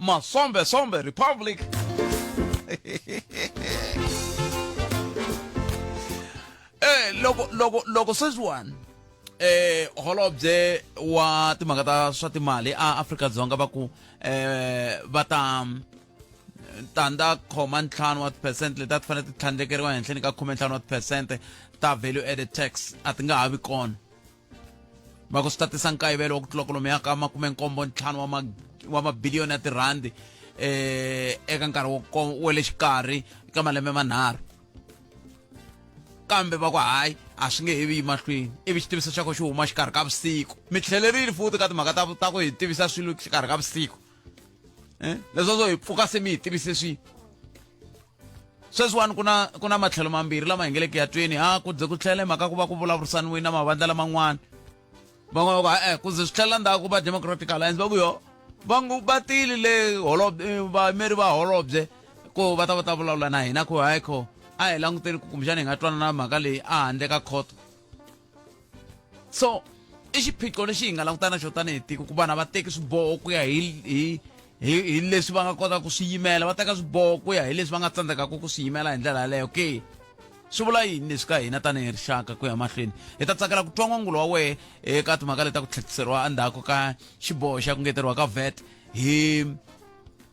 Masombe Sombe Republic. eh loko loko loko sweswiwani eh holobye wa timhaka ta swa timali a Afrika Dzonga va ku eh va ta tanda khoma ntlhanu wa percent leti a ti fanele ti tlhandlekeriwa henhleni ka khume ntlhanu wa percent ta value added tax a ti nga ha vi kona va ku swi ta tisa nkayivelo wa ku tlula kolomo ya ka makume nkombo ntlhanu wa ma wa mabiliyoni ya tirhandi eh eka nkarhi wa le xikarhi eka malembe manharhu kambe va ku hayi a swi nge he vi yi mahlweni ivi xitiviso xa ko xi huma xikarhi ka vusiku mi tlhelerile futi ka timhaka ta ta ku hi tivisa swilo xikarhi ka vusiku eh leswo swo hi pfuka se mi hi tivise swi sweswiwani ku na ku na matlhelo mambirhi lama hi nge le ku ya tweni ha ku ze ku tlhele mhaka ku va ku vulavurisaniwini na mavandla laman'wana van'wana va ku e ku ze swi tlhelela ndhaku va democratic alliance va ku yo va ngo va tile le holobye eh, vayimeri va holobye ku va ta va ta vulavula na hina ku hayi kho a hi languteni ku kumbexana hi nga twanana mhaka leyi a handle ka khoto so i xiphiqo lexi hi nga langutana xo tanihi tiko ku vana va teki swiboho ku ya hi hi hi hi leswi va nga kotaka ku swi yimela va teka swiboho ku ya hi leswi va nga tsandzekaka ku swi yimela hi ndlela yaleyo ke swi vula yini leswi ka hina tanihi rixaka ku ya mahlweni hi ta tsakela ku twa n'wangulo wa wehe eka timhaka leti ta ku tlhetiseriwa endzhaku ka xiboho xa ku ngeteriwa ka vet hi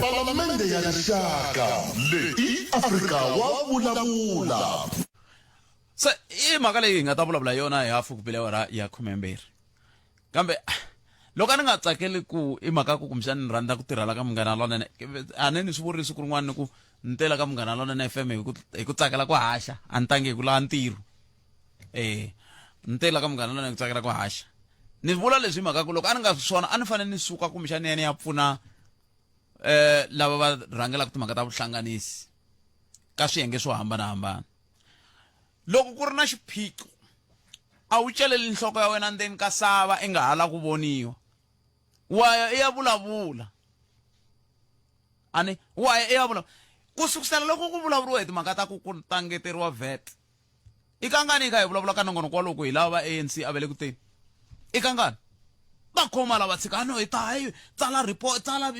Palamende ya Rixaka leyi i Afrika wa vulavula. se i mhaka leyi hi nga ta vulavula yona hi hafu ku pile awara ya khumembirhi kambe loko a ni nga tsakeli ku i mhaka ku kumbexani ni rhandza ku tirhela ka munghana lonene a ni ni swi vurile siku rin'wana ni ku ni tela ka munghana lonene fm hi ku hi ku tsakela ku haxa a ni tangi hi ku lava ntirho eh ntela ka munghana lana ni tsakela ku haxa ni vula leswi hi mhaka ku loko a ni nga swona a ni fanele ni suka kumbexani ya ni ya pfuna eh lava va rhangelaka timhaka ta vuhlanganisi ka swiyenge swo hambanahambana loko ku ri na xiphiqo a wu celeli nhloko ya wena ndzeni ka sava i nga ha la ku voniwa waya i ya vulavula ani waya i ya vulavula ku sukusela loko ku vulavuriwa hi timhaka ta ku ku tangeteriwa vet I kangani i kha hi vulavula ka nongonoko wa loko hi lava va ANC a ve le ku teni? I kangani? Va khoma lava tshika a no hi ta hi tsala report tsala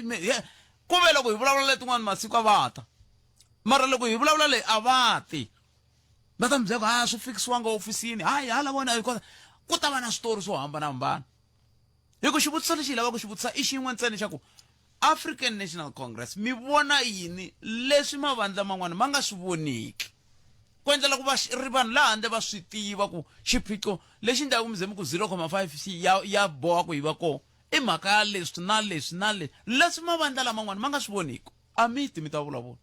ku ve loko hi vulavula letin'wana masiku a va ta mara loko hi vulavula leyi a va ti va ta mi byela ku a swi fikisiwanga ofisini hayi hala vona ku ta va na switori swo hambanahambana hi ku xivutiso lexi hi lavaka ku xi vutisa i xin'we ntsena xa ku African National Congress mi vona yini leswi mavandla man'wana ma nga swi voniki ku endlela ku va ri vanhu laha handle va swi tiva ku xiphiqo lexi ndhaku mi ze mi ku 0,5 ya ya boha ku yi va kona i mhaka ya leswi na leswi na leswi leswi mavandla laman'wana ma nga swi voniki a mi ti mi ta vulavula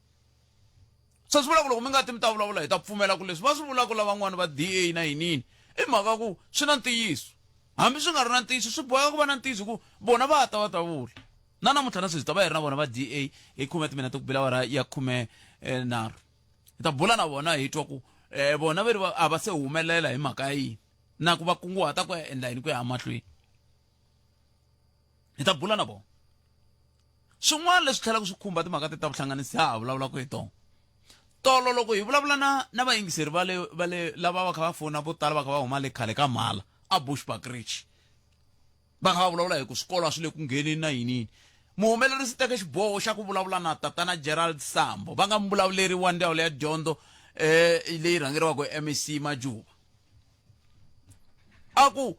se swi vula ku loko mi nga ti mi ta vulavula hi ta pfumela ku leswi va swi vulaka lavan'wana va DA na yinini i mhaka ku swi na ntiyiso hambi swi nga ri na ntiyiso swi boheka ku va na ntiyiso ku vona va ta va ta vula na namuntlha na sweswi ta va hi ri na vona va DA hi khume timinete ku bila wara ya khume eh, nharhu hi ta bula na vona hi twa ku eh, vona ve ri a va se humelela hi mhaka ya yini na ku va kunguhata ku ya endla yini ku ya emahlweni hi ta bula na vona swin'wana leswi tlhelaka swi khumba timhaka te ta vuhlanganisi ha ha vulavulaka hi tona tolo loko hi vulavula na na vayingiseri va le va le lava va kha va fona vo tala va kha va huma le khale ka mhala a bushback rich va kha va vulavula hi ku swikolo a swi le ku ngheneni na yinini muhumelerisi teke xiboho xa ku vulavula na tatana gerald sambo va nga muvulavuleri wa ndzawulo ya dyondzo um leyi rhangeriwaka hi mec majuva a ku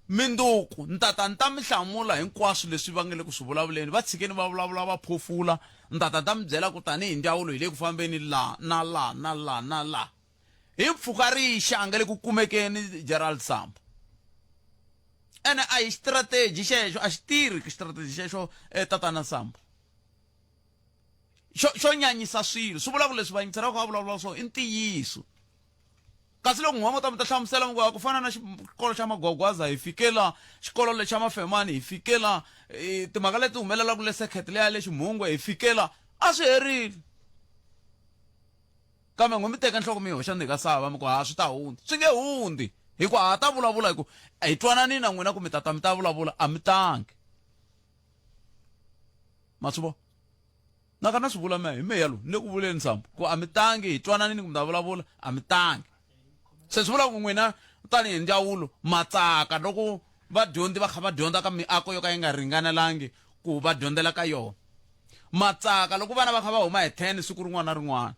minduku ni ta ta ni ta mi hlamula hinkwaswo leswi va nge le ku swi vulavuleni va tshikeni va vulavula va phofula ni ta ta ta mi byela ku tanihi ndzawulo hi le ku fambeni laha na laha na laha na laha hi mpfhuka rixa a nge le ku kumekeni gerald sambo ene a hi xitrategi xexo a xi tirhi ku xitrategi xexo eh, tatana sambo xo xo nyanyisa swilo swi vula ku leswi vayingisera ku va vulavula swona i ntiyiso Kasi loko nhova ta mi ta hlamusela mi ku ku fana na xikolo xa magwagwaza hi fike la xikolo lexa mafemani hi fike la e, timhaka leti humelelaka le sekhet leya le ximhungwe hi fike la a swi herile kambe ngo mi teka nhloko mi yi hoxa ndzi ka sava mi ku ha swi ta hundza swi nge hundzi hi ku ha ta vulavula hi ku hi twanani na n'wina ku mi tata mi ta vulavula a mi tangi ma swi vona Naka na swi vula mehe, hi mehe lowu, ni le ku vuleni Ndzambu, ku a mi tangi, hi twananini ku mi ta vulavula, a mi tangi. Se swi vula ku n'wina tani hi ndzawulo ma tsaka loko vadyondzi va kha va dyondza ka miako yo ka yi nga ringanelangi ku va dyondzela ka yona. Ma tsaka loko vana va kha va huma hi 10 siku rin'wana na rin'wana.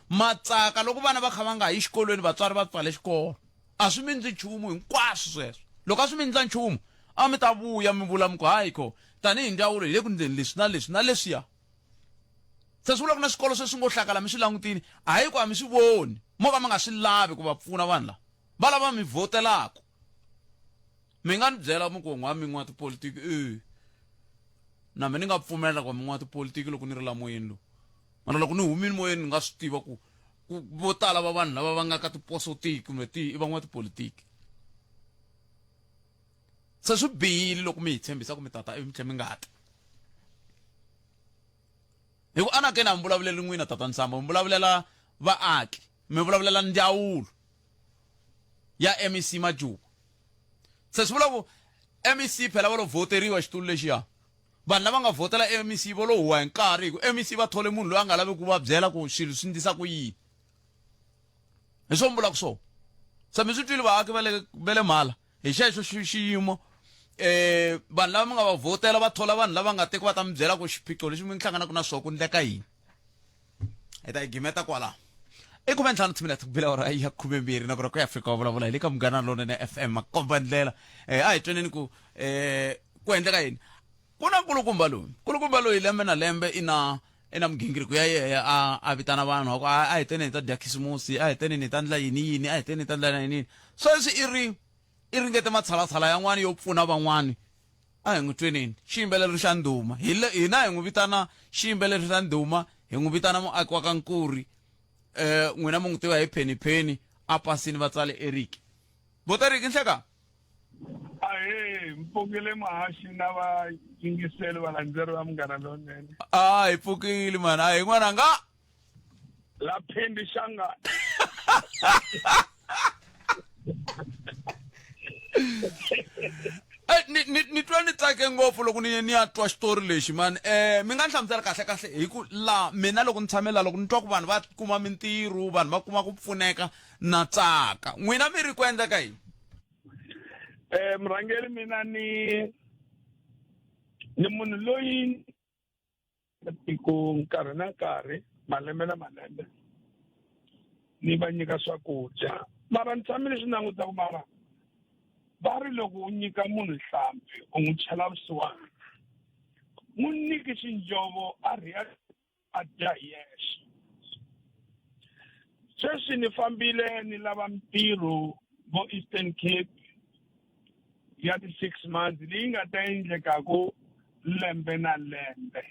ma tsaka loko vana va kha va nga ha yi xikolweni vatswari va pfale xikolo a swi mi ndzi nchumu hinkwaswo sweswo loko a swi mi ndza nchumu a mi ta vuya mi vula mi ku hayi ko tanihi ndzawulo hi le ku ndzeni leswi na leswi na leswiya se swi vula ku na swikolo sweswi ngo hlakala mi swi langutini hayi ku a mi swi voni mo ka mi nga swi lavi ku va pfuna vanhu lava va lava mi vhotelaku mi nga ni byela mi ku n'wa min'wa tipolitiki e na mi ni nga pfumela ku min'wa tipolitiki loko ni ri lamoyeni lowu mara loko ni humile moyeni ni nga swi tiva ku ku vo tala va vanhu lava va nga ka tiposo tihi kumbe tihi i van'watipolitiki se swi bihile loko mi hi tshembisa ku mi tata ivi mi tlhe mi nga ti hi ku anakeni a mi vulavuleli n'wina tata nsamba mi vulavulela vaaki mi vulavulela ndzawulo ya mec majuba se swi vula ku mec phela va lo voteriwa xitulu lexiya Vanhu lava nga vhotela MEC vo lo huwa hi nkarhi hi ku MEC va thole munhu loyi a nga lavi ku va byela ku swilo swi ndlisa ku yini. Hi swona ni vulaka swona. Se mi swi twile vaaki va le va le Mhala hi xexo xiyimo um vanhu lava mi nga va vhotela va thola vanhu lava nga te ku va ta mi byela ku xiphiqo lexi mi hlanganaka na swona ku endleka yini. hi ta yi gimeta kwala i ku ventlhanu tshimila tikubila ora ya khumembirhi na kona ku ya fika wa vulavula hi le ka munghana lonene fm makomba ndlela um a hi tweneni ku um ku endleka yini ku na nkulukumba loyi nkulukumba loyi lembe na lembe i na i na migingiriko ya yeya a a vitana vanhu aku a hi teneni hi ta dya khisimusi a hi teneni hi ta ndla yini yini a hi teneni hi ta ndla yini yini sweswi i ri i ringete matshalatshala yan'wana yo pfuna van'wana. A hi n'wi tweneni. Xiyimbeleri xa ndhuma. Hi le, hina hi n'wi vitana xiyimbeleri xa ndhuma, hi n'wi vitana muaki wa ka Nkuri. E, n'wina mi n'wi tiva hi Penny Penny, a pasini va tsale Eric. Vo ta Eric Nhleka? Ahee, mpfukile muhaxi na vayingiseli valandzeri va Munghana Lonene. A hi pfukile mhani, a hi n'wananga. laphendi shangane Eh, ni ni ni twa ni tsake ngopfu loko ni ni ya twa xitori lexi mani um mi nga ni hlamusela kahle kahle hi ku la mina loko ni tshame la loko ni twa ku vanhu va kuma mintirho vanhu va kuma ku pfuneka na tsaka n'wina mi ri ku endla ka yini um murhangeri mina ni ni munhu loyi ku nkarhi na nkarhi malembe na malembe ni va nyika swakudya mara ni tshame ni swi languta ku mara va ri loko u nyika munhu nhlampfi u n'wi chela vusiwana n'wi nyiki xinjovo a rhiya a dya hi yexe sweswi ni fambile ni lava mintirho vo eastern cape ya ti-six months leyi nga ta endlekaku lembe na lembe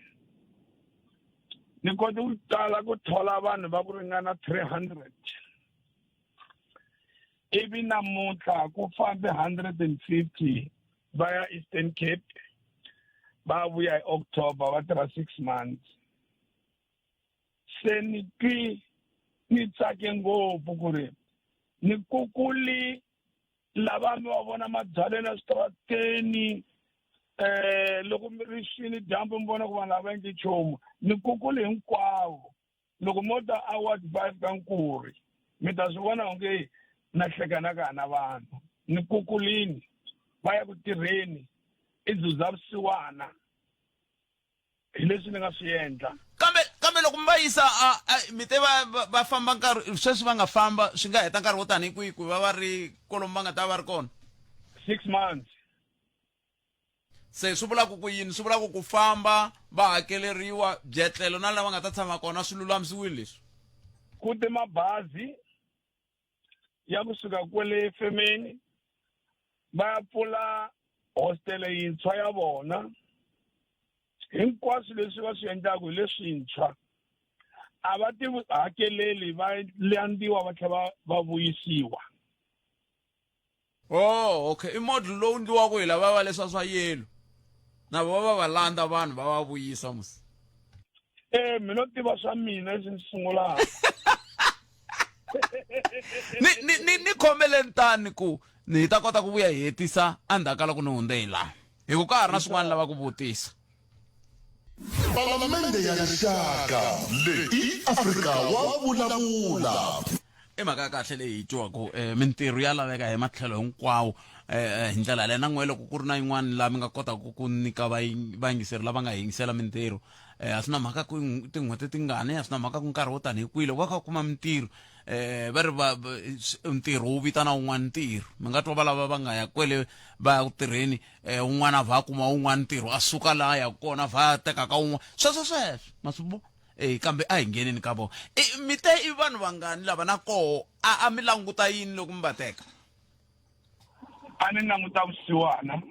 ni kote ku tala ku thola vanhu va ku ringana three hundred ivi namuntlha ku fambe hundred and fifty va ya eastern cape va vuya hi october va tirha six months se ni twi ni tsake ngopfu ku ri ni kukuli lava mi va vona mabyaleni eswitarateni eh loko mi ri xini dyambu mi vona ku vanhu lava endli nchumu ni kukuli hinkwavo loko mo ta award five ka nkuri mi ta swi vona onge na hlekana ka hana vanhu ni kukulini va ya ku tirheni i zuza vusiwana hi leswi ni nga swi endla kambe kambe loko mi va yisa a- a- mi te va va- va famba nkarhi sweswi va nga famba swi nga heta nkarhi wo tanihi kwihi ku va va ri kolomu va nga ta va ri kona six months se swi vulaka ku yini swi vulaka ku famba va hakeleriwa byetlelo na lava nga ta tshama kona swi lulamisiwile leswi ku te mabazi ya kusuka kwale femeni va ya pfula hostele yintshwa ya vona hinkwaswo leswi va swi endlaku hi leswintshwa a va ti hakeleli va landziwa va tlhela va va vuyisiwa Oh, okay. I model lowu ndliwaka hi lava va leswa swa yellow. Na va va va landza vanhu va va vuyisa musi. Eh, mina u tiva swa mina leswi ndzi sungulaka. Ni ni ni ni khomeleni tani ku ni ta kota ku vuya hi hetisa endzhaku ka loko ni hundze hi laha. Hi ku ka ha ri na swin'wana lava ku vutisa. palamende ya rixaka leyi i afrika wa vulavula i mhaka ya kahle leyi yi twiwaku um mintirho ya laveka hi matlhelo hinkwawo um hi ndlela leyi na n'we loko ku ri na yin'wana laha mi nga kotaka ku nyika vayingiseri lava nga hi yingisela mintirho um a swi na mhaka ku tin'hweti tingani a swi na mhaka ku nkarhi wo tanihi kwihi loko va kha va kuma mintirho eh va ri va ntirho wu vitana wun'wana ntirho mi nga twa valava va nga ya kwele va ya ku tirheni eh, un'wana a vha a kuma un'wana ntirho a suka laha a yaka kona a vha a teka ka un'wana sweswo sweswo ma swi vona e kambe a hi ngheneni ka vona e, mi te i vanhu vangani lava na koho a mi languta yini loko mi va teka a ni languta vusiwana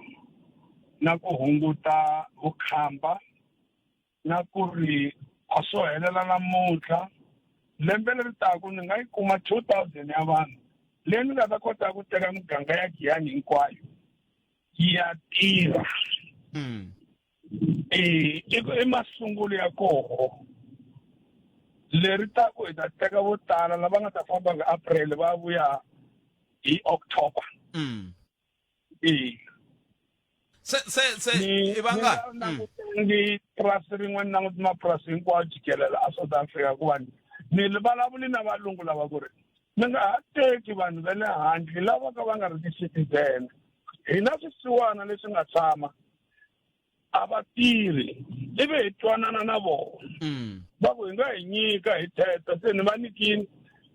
na ku hunguta vukhamba na ku ri a swo helela namuntlha lembe leri taku ni nga yi kuma two thousand ya vanhu leyi ni nga ta kota ku teka miganga ya giyani hinkwayo yi ya tirha hmm. e, i masungulo ya koho leri ta ku hi ta teka vo tala lava nga ta famba hi april va vuya hi october mm. ina se se se ni i vangani ni nga languti ni purasi rin'we ni languti mapurasi hinkwawo jikelela a south africa ku vanhu ni li vulavuli na valungu lava ku ri mi nga ha teki vanhu va le handle lava ka va nga ri ti-citizen hina swisiwana leswi nga tshama a va tirhi ivi hi twanana na vona Mm. va ku hi nga hi nyika hi thetha se ni va nikini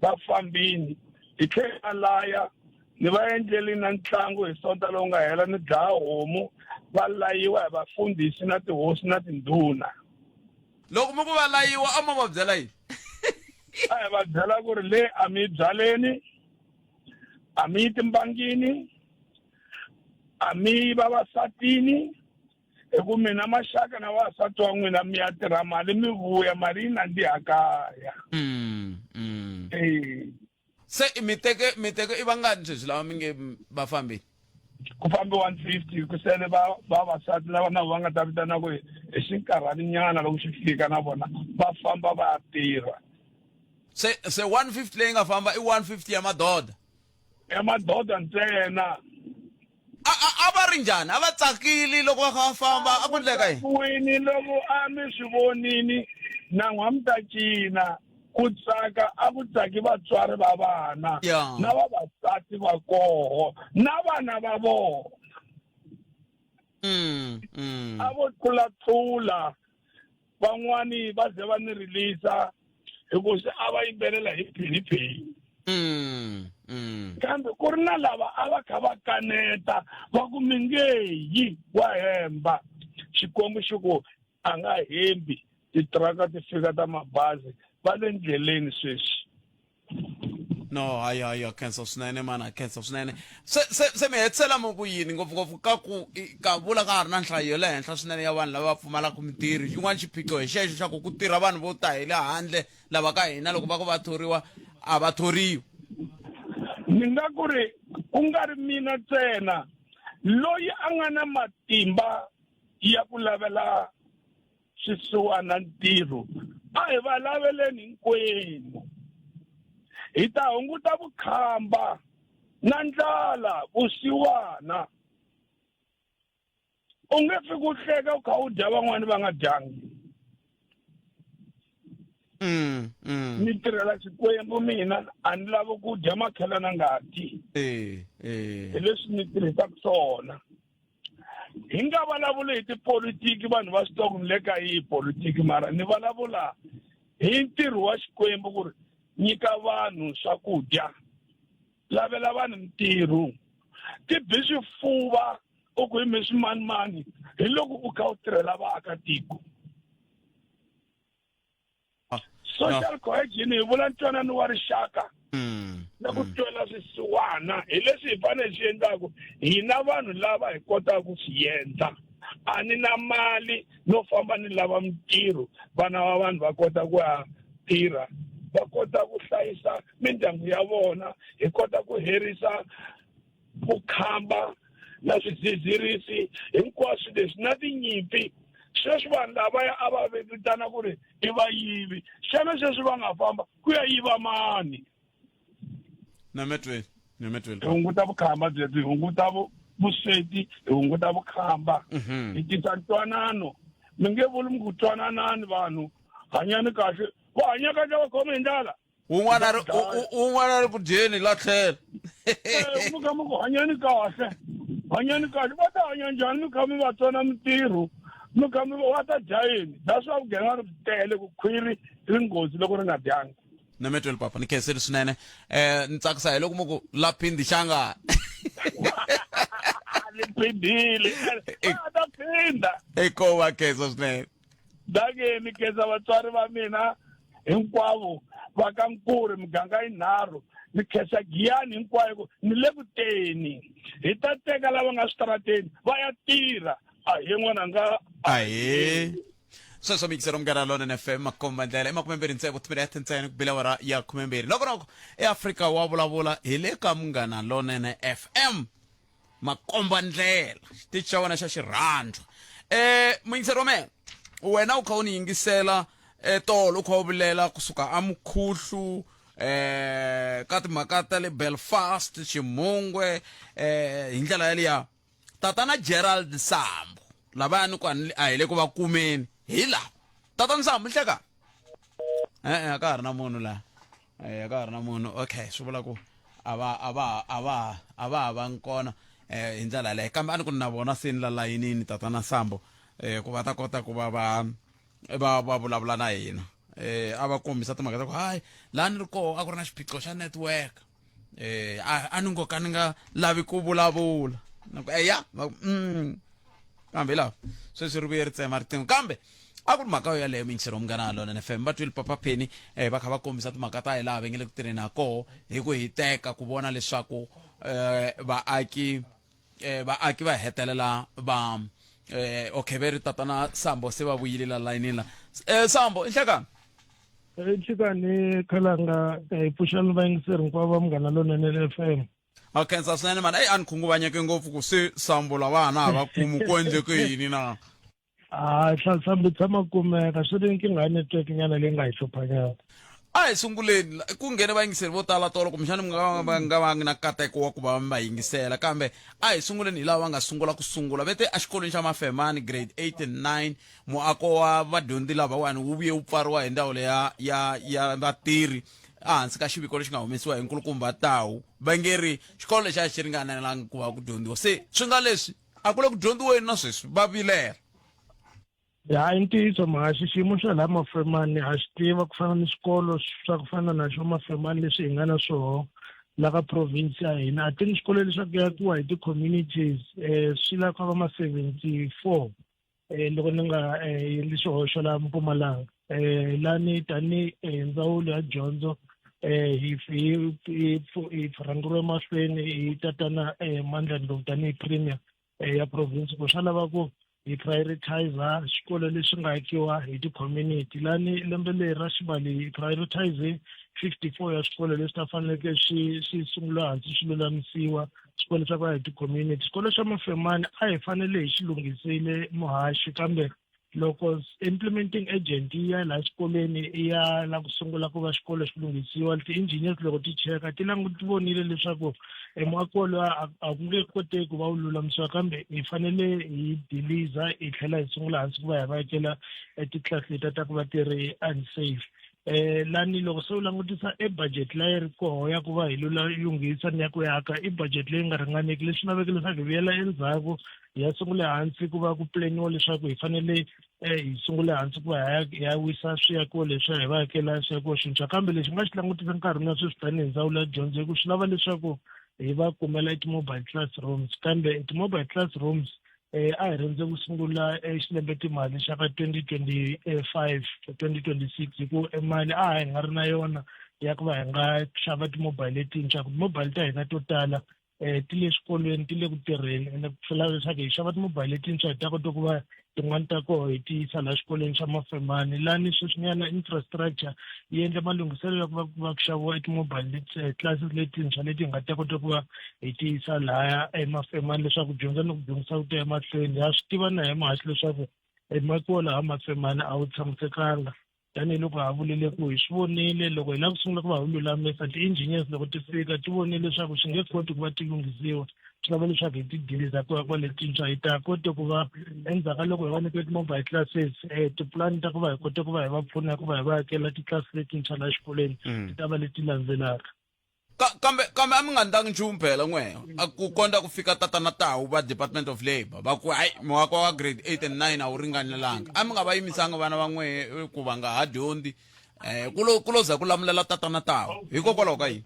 va fambini hi tlhela va laya ni va endleli na ntlangu hi sonta lowu nga hela ni dlaya homu va layiwa hi vafundhisi na tihosi na tindhuna loko mi ku va layiwa a mo va byela yini a hi va byela ku ri le a mi yi byaleni a mi yi timbangini a mi vavasatini hi ku mina maxaka na vavasati wa n'wina mi ya tirha mali mi vuya mali yi nandziha kaya Mm, mm. Eh, se i mi teke mi teke i vangani sweswi lava mi nge m- va fambile ku fambe 150 ku sele va- vavasati lava na va nga ta vitana ku hi hi xinkarhani nyana loko xi fika na vona va famba va ya tirha se se 150 leyi nga famba i 150 ya madoda ya madoda ntsena a a a va ri njhani a va tsakile loko va kha va famba a ku endleka yini wini loko a mi swi vonini nan'wa mi ta cina ku tsaka a ku tsaki vatswari va vana Ya. na vavasati va koho na vana va vona Mm, mm. a vo tlulatlula van'wani va ze va ni rilisa hikuva se a va yimbelela hi phiniphini Mm, mm. kambe ku ri na lava a va kha va kaneta va ku mingeyi wa hemba xikwembu xi ku a nga hembi titiraka ti fika ta mabazi va le ndleleni sweswi no hayi hayi akhensa swinene mani akhensa swinene se se se mi hetisela mi ku yini ngopfungopfu ka ku i- ka vula ka ha ri na nhlayo ya le henhla swinene ya vanhu lava va pfumalaka mitirhi xin'wana xiphiqo hi xexo xa ku ku tirha vanhu vo ta hi le handle lava ka hina loko va ku va thoriwa a va thoriwi ni nga ku ri ku nga ri mina ntsena loyi a nga na matimba ya ku lavela swisiwana ntirho a hi va laveleni hinkwenu hi ta hunguta vukhamba na ndlala vusiwana u nge fi ku hleka u kha u dya van'wani va nga dyangi mm, mm. ni tirhela xikwembu mina a ni lavi ku dya makhelana ngati eh, eh. hi leswi ni tirhisaka swona hi nga vulavuli hi tipolitiki vanhu va swi tiva ni le ka yihi politiki mara ni vulavula hi ntirho wa xikwembu ku ri nyika vanhu swakudya lavela vanhu mintirho ti bi swifuva u ku hi mi swimanimani hi loko u kha u tirhela vaakatiko social no. cohesion hi vula ntwanano wa rixaka mm. na ku mm. twela swisiwana hi leswi hi fanele swi endlaku hina vanhu lava hi kotaka ku swi endla a ni na mali no famba ni lava mintirho vana va vanhu va kota ku ya tirha va kota ku hlayisa mindyangu ya vona hi kota ku herisa vukhamba na swidzidzirisi hinkwaswo leswi na tinyimpi sweswi vanhu lavaya a va vitana ku ri i vayivi xana sweswi va nga famba ku ya yiva mani nametweni nametweni hi hunguta vukhamba byebyi hi hunguta vusweti hi hunguta vukhamba mhm. hi tisa ntwanano mi nge vuli mi ku twananani vanhu hanyani kahle va hanya kahle va khome hi ndlala un'wana a ri Bya dlaya. u- u- un'wana a ri ku dyeni la tlhela Eh, mi kha mi ku hanyeni kahle hanyeni kahle va ta hanya njhani mi kha mi va tsona mintirho mi kha mi va ta dya yini that's why vugevenga ri tele ku khwiri ri nghozi loko ri nga dyangi nametweni papa ni khenseli swinene eh ni tsakisa hi loko mu ku la phindi xanga ni phindile a ta phinda eko wa khensa swinene dake ni khensa vatswari va mina hinkwavo va ka nkuri miganga yinharhu ni khensa giyani hinkwayo ku ni le ku teni hi ta teka lava nga switarateni va ya tirha a hi n'wana nga ahee sweswo mikisero munghana lonene fm makomba ndlela i makume mbirhi ntsevu timinete ya tintsene ku bile wara ya khume mbirhi loko roko eafrika wa vulavula hi le ka munghana lonene fm makombandlela xitichi xa wena xa xirhandzwa um muyingiseri wa mehe wena u kha u ni yingisela um tolo u kha u vilela kusuka amukhuhlu um eh, ka timhaka ta le belfast ximungwe um eh, hi ndlela yaliya tatana gerald sambo lavaya ni ku a hi le ku va kumeni hi lava tatana sambo ni hlekani e-e a ka ha ri na munhu laha eh ka ha ri na munhu okay swi vula ku a va a va a va a va ha va ngi kona eh hi ndlela yaleyo kambe a ni ku na vona se ni la layinini tatana sambo eh ku va ta kota ku va va va va vulavula na hina eh a va kombisa timhaka ta ku hayi laha ni ri koho a ku ri na xiphiqo xa network eh a a ni ngo ka ni nga lavi ku vulavula na ku eya va ku mm kambe lawa sweswi ri vuye ri tsema riqingho kambe a ku ri mhaka yo yaleyo minchero munghana wa lona nfm va twile papa penny um va kha va kombisa timhaka ta hi laha va nge le ku tirheni ha koho hi ku hiteka ku vona leswaku um vaaki um vaaki va hetelela va um okay ve ri tatana sambo se va vuyile la layinini la um sambo i nhlekani xikani khalanga hi pfuxani vayingiseri hinkwavo va munghana lonene le f m a khensa swinene mani eyi a ni khunguvanyeke ngopfu ku se sambo lavana a va kumi ku endleke yini na a hlasambi tshama kumeka swi ri nkingha ya network nyana leyi nga hi hluphanyana a hi sunguleni ku nghene vayingiseri vo tala tolo kumbexana mi nga va nga vangi na nkateko wa ku va mi va yingisela kambe a hi sunguleni hi lava va nga sungula ku sungula ve te exikolweni xa mafemani grade 8 and 9 muako wa vadyondzi lavawani wu vuye wu pfariwa hi ndzawulo ya ya ya vatirhi ehansi ka xiviko lexi nga humesiwa hi nkulukumba tawu va nge ri xikolo lexi a xi ringanelangi ku va ku dyondziwa se swi nga leswi a ku le ku dyondziweni na sweswi va vilela ya i ntiyiso mhaka xiximo xa laha mafemani ha xi tiva ku fana ni swikolo swa ku fana na xo mafemani leswi hi nga na swoho la ka province ya hina a ti ni swikolo leswaku yakiwa hi ti-communities um swi lava ku va ma-seventy four eh, loko ni nga eh, endli xihoxo laha mpumalanga eh, lani tanihi eh, ndzawulo ya dyondzo eh, hi hi- hi- hi rhangeriwe mahlweni hi tatana eh, mandlani lowu tanihi premier eh, ya province ku swa lava ku hi prioritizer xikolo lexi nga akiwa hi ti-community lani lembe leri ra xivali hi prioritize fifty four ya swikolo leswi ta faneleke swi swi sungula hansi swi lulamisiwa xikwele xa ku ya hi ti-community xikolo xa mafemani a hi fanele hi xi lunghisile muhaxi kambe loko implementing agent yi ya laha xikolweni i ya la ku sungula ku va xikolo xi lunghisiwa ti-engineers loko ti cheka ti languti vonile leswaku e muako lowa a ku nge koteki ku va wu lulamisiwa kambe hi fanele hi deliza hi tlhela hi sungula hansi ku va hi va yekela e ti-class letiya ta ku va ti ri unsafe eh lani loko se u langutisa e budget la yi ri koho ya ku va hi lula lunghisa ni ya ku yaka i budget leyi nga ringaneki leswi laveke leswaku hi vuyela endzhaku hi ya sungule hansi ku va ku planiwa leswaku hi fanele eh, hi sungule hansi ku va hi ya wisa swiyakiwo leswi hi va hakela swiyakiwo swintshwa kambe lexi nga xi langutisa nkarhi na sweswi tanihi ndzawulo ya dyondzo hi ku swi lava leswaku hi va kumela i ti-mobile classrooms kambe ti-mobile classrooms eh, a hi rhandze ku sungula xilembe timali xa ka 2025 2026 hi ku emali a hi nga ri na yona ya ku va hi nga xava timobile letintshwa ku timobile ta hina to tala um ti le swikolweni ti le ku tirheni ende ku tlhela leswaku hi xava timobile letintshwa hi ta kota ku va tin'wani ta koho hi ti yisa laha xikolweni xa mafemani lani sweswinyana infrastructure yi endle malunghiselo ya ku va ku va ku xaviwa timobile eh, classes letintshwa leti hi nga ta kota ku va hi tiyisa laya emafemani leswaku dyondza ni ku dyondzisa ku ta emahlweni ha swi tiva na hi mahati leswaku emakiwa laha mafemani a wu tshamisekanga tanihiloko ha vulile ku hi swi vonile loko hi lava ku sungula ku va wu lulamisa ti-engineers loko ti fika ti vonile leswaku swi nge koti ku va ti lunghisiwa swi lava leswaku hi ti diliza ku ya kwaletintshwa hi ta kote ku va endzhaku ka loko hi va nyike ti-mobile classes um tipulani ta ku va hi kote ku va hi va pfuna ku va hi va hakela titlasi letintshwa laha xikolweni mm. ti ta va leti landzelaka Ka, kambe kambe a mi nga ndangi nchumu phela n'we ku kondza ku fika tatana tawu va department of labour va ku hayi muwako wa grade 8 and 9 a wu ringanelanga a mi nga va yimisanga vana va n'we ku va nga ha dyondzi um ku lo ku lo za ku lamulela tatana tawu hikokwalaho ka yini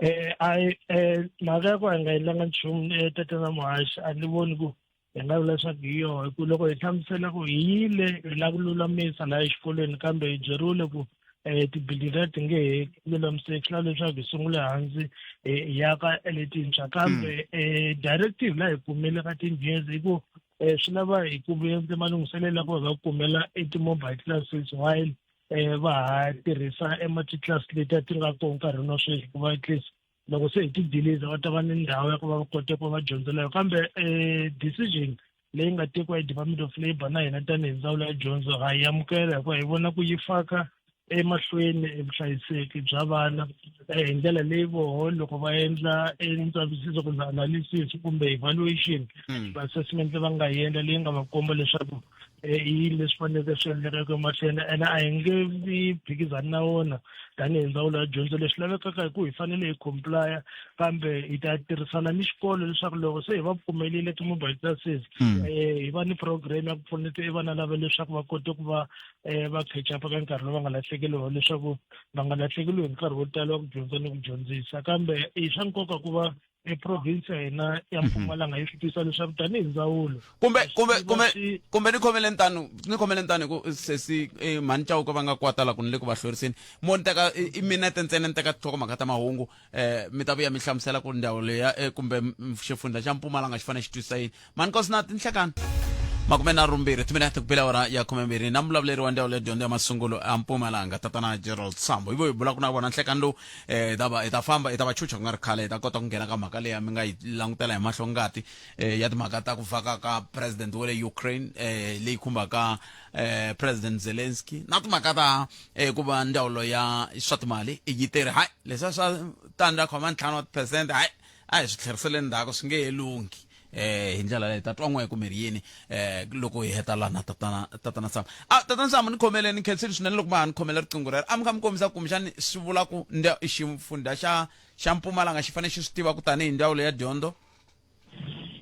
um a um mhaka ya ku a nga endlanga nchumu tatana muhaxi a ni voni ku hi nga vula leswaku hi yoho hi ku loko hi hlamusela ku hi yile hi lava ku lulamisa laha exikolweni kambe hi byeriwile ku um tibili leti nge he lulamiseki swi lava leswaku hi sungule hansi hi yaka letintshwa kambe um directive laha hi kumile ka tinjezi hi ku um swi lava hi kumiyenze malunghiselelo ya ku va kumela eti-mobile classes while um va ha tirhisa ema-titlasi leti a ti nga kona nkarhini wa sweswi ku va at least loko se hi ti deliza va ta va ni ndhawu ya ku va va kote ku va va dyondzela yo kambe um decision leyi nga tekiwa hi department of labour na hina tanihi ndzawulo ya dyondzo ha yi amukela hikuva hi vona ku yi faka emahlweni evuhlayiseki bya vana eh, hi ndlela leyi voho loko va endla entsavisiso kumbe analysis kumbe evaluation hmm. assessment va nga yi endla leyi nga va komba leswaku eh, i yini leswi faneleke swi endlekaka emahlweni ene a hi nge vi phikizani na wona tanihi ndzawulo ya dyondzo leswi lavekaka hi ku hi fanele hi complya kambe hi ta tirhisana ni xikolo leswaku loko se hi va pfumelile ti-mobile classes um hi va ni program ya ku pfuneta i vana lava leswaku va kote ku va um va catch up ka nkarhi lowu va nga lahlekeliwa leswaku va nga lahlekeliwi hi nkarhi wo tala wa ku dyondza ni ku dyondzisa kambe i swa nkoka ku va eprovince ya hina ya mhm. mpumalanga yi swi tisa leswaku tanihi ndzawulo kumbe kumbe kumbe kumbe ni khomele ntano ni khomele ntano ku sesi eh, mhani chauka va nga kwatala ku ni le ku va hloriseni mo ni teka i minete ntsena ni teka tihlokomhaka ta mahungu um mi ta vuya mi hlamusela ku ndhawu leya eh, kumbe xifundza xa mpumalanga xi fanele xi twisisa yini manikosi na tinhlekani makume na rumbirhi timinete kubela ora ya khumembirhi na mulavuleri wa ndzawulo ya dyondzo ya masungulo a mpumalanga tatana gerald sambo ivo hi bulaku na vona nhlekani lowu eh, ta va- hi ta famba hi ta va chucha ku nga ri khale hi ta kota ku nghena ka mhaka leyi mi nga yi langutela hi mahlo ngati eh, ya timhaka ta ku vaka ka president wa le ukraine eh, leyi khumbaka eh, president zelensky na timhaka ta eh, ku va ndzawulo ya swa timali yi tirhi hayi leswiya swa tandza khoma ntlhanu wa tiphesente hayi a hi swi tlherisele ndzhaku swi nge he lunghi eh hi ndlela leyi ta twa n'we kumbe ri yini eh loko hi heta lana tatana tatana Sam ah tatana Sam ni khomele ni khensile swinene loko ma ni khomela riqingho rero a mi kha mi kombisa ku mixani swi vula ku nda ximfundha xa xa Mpumalanga xi fanele xi swi tiva ku tanihi ndzawulo ya dyondzo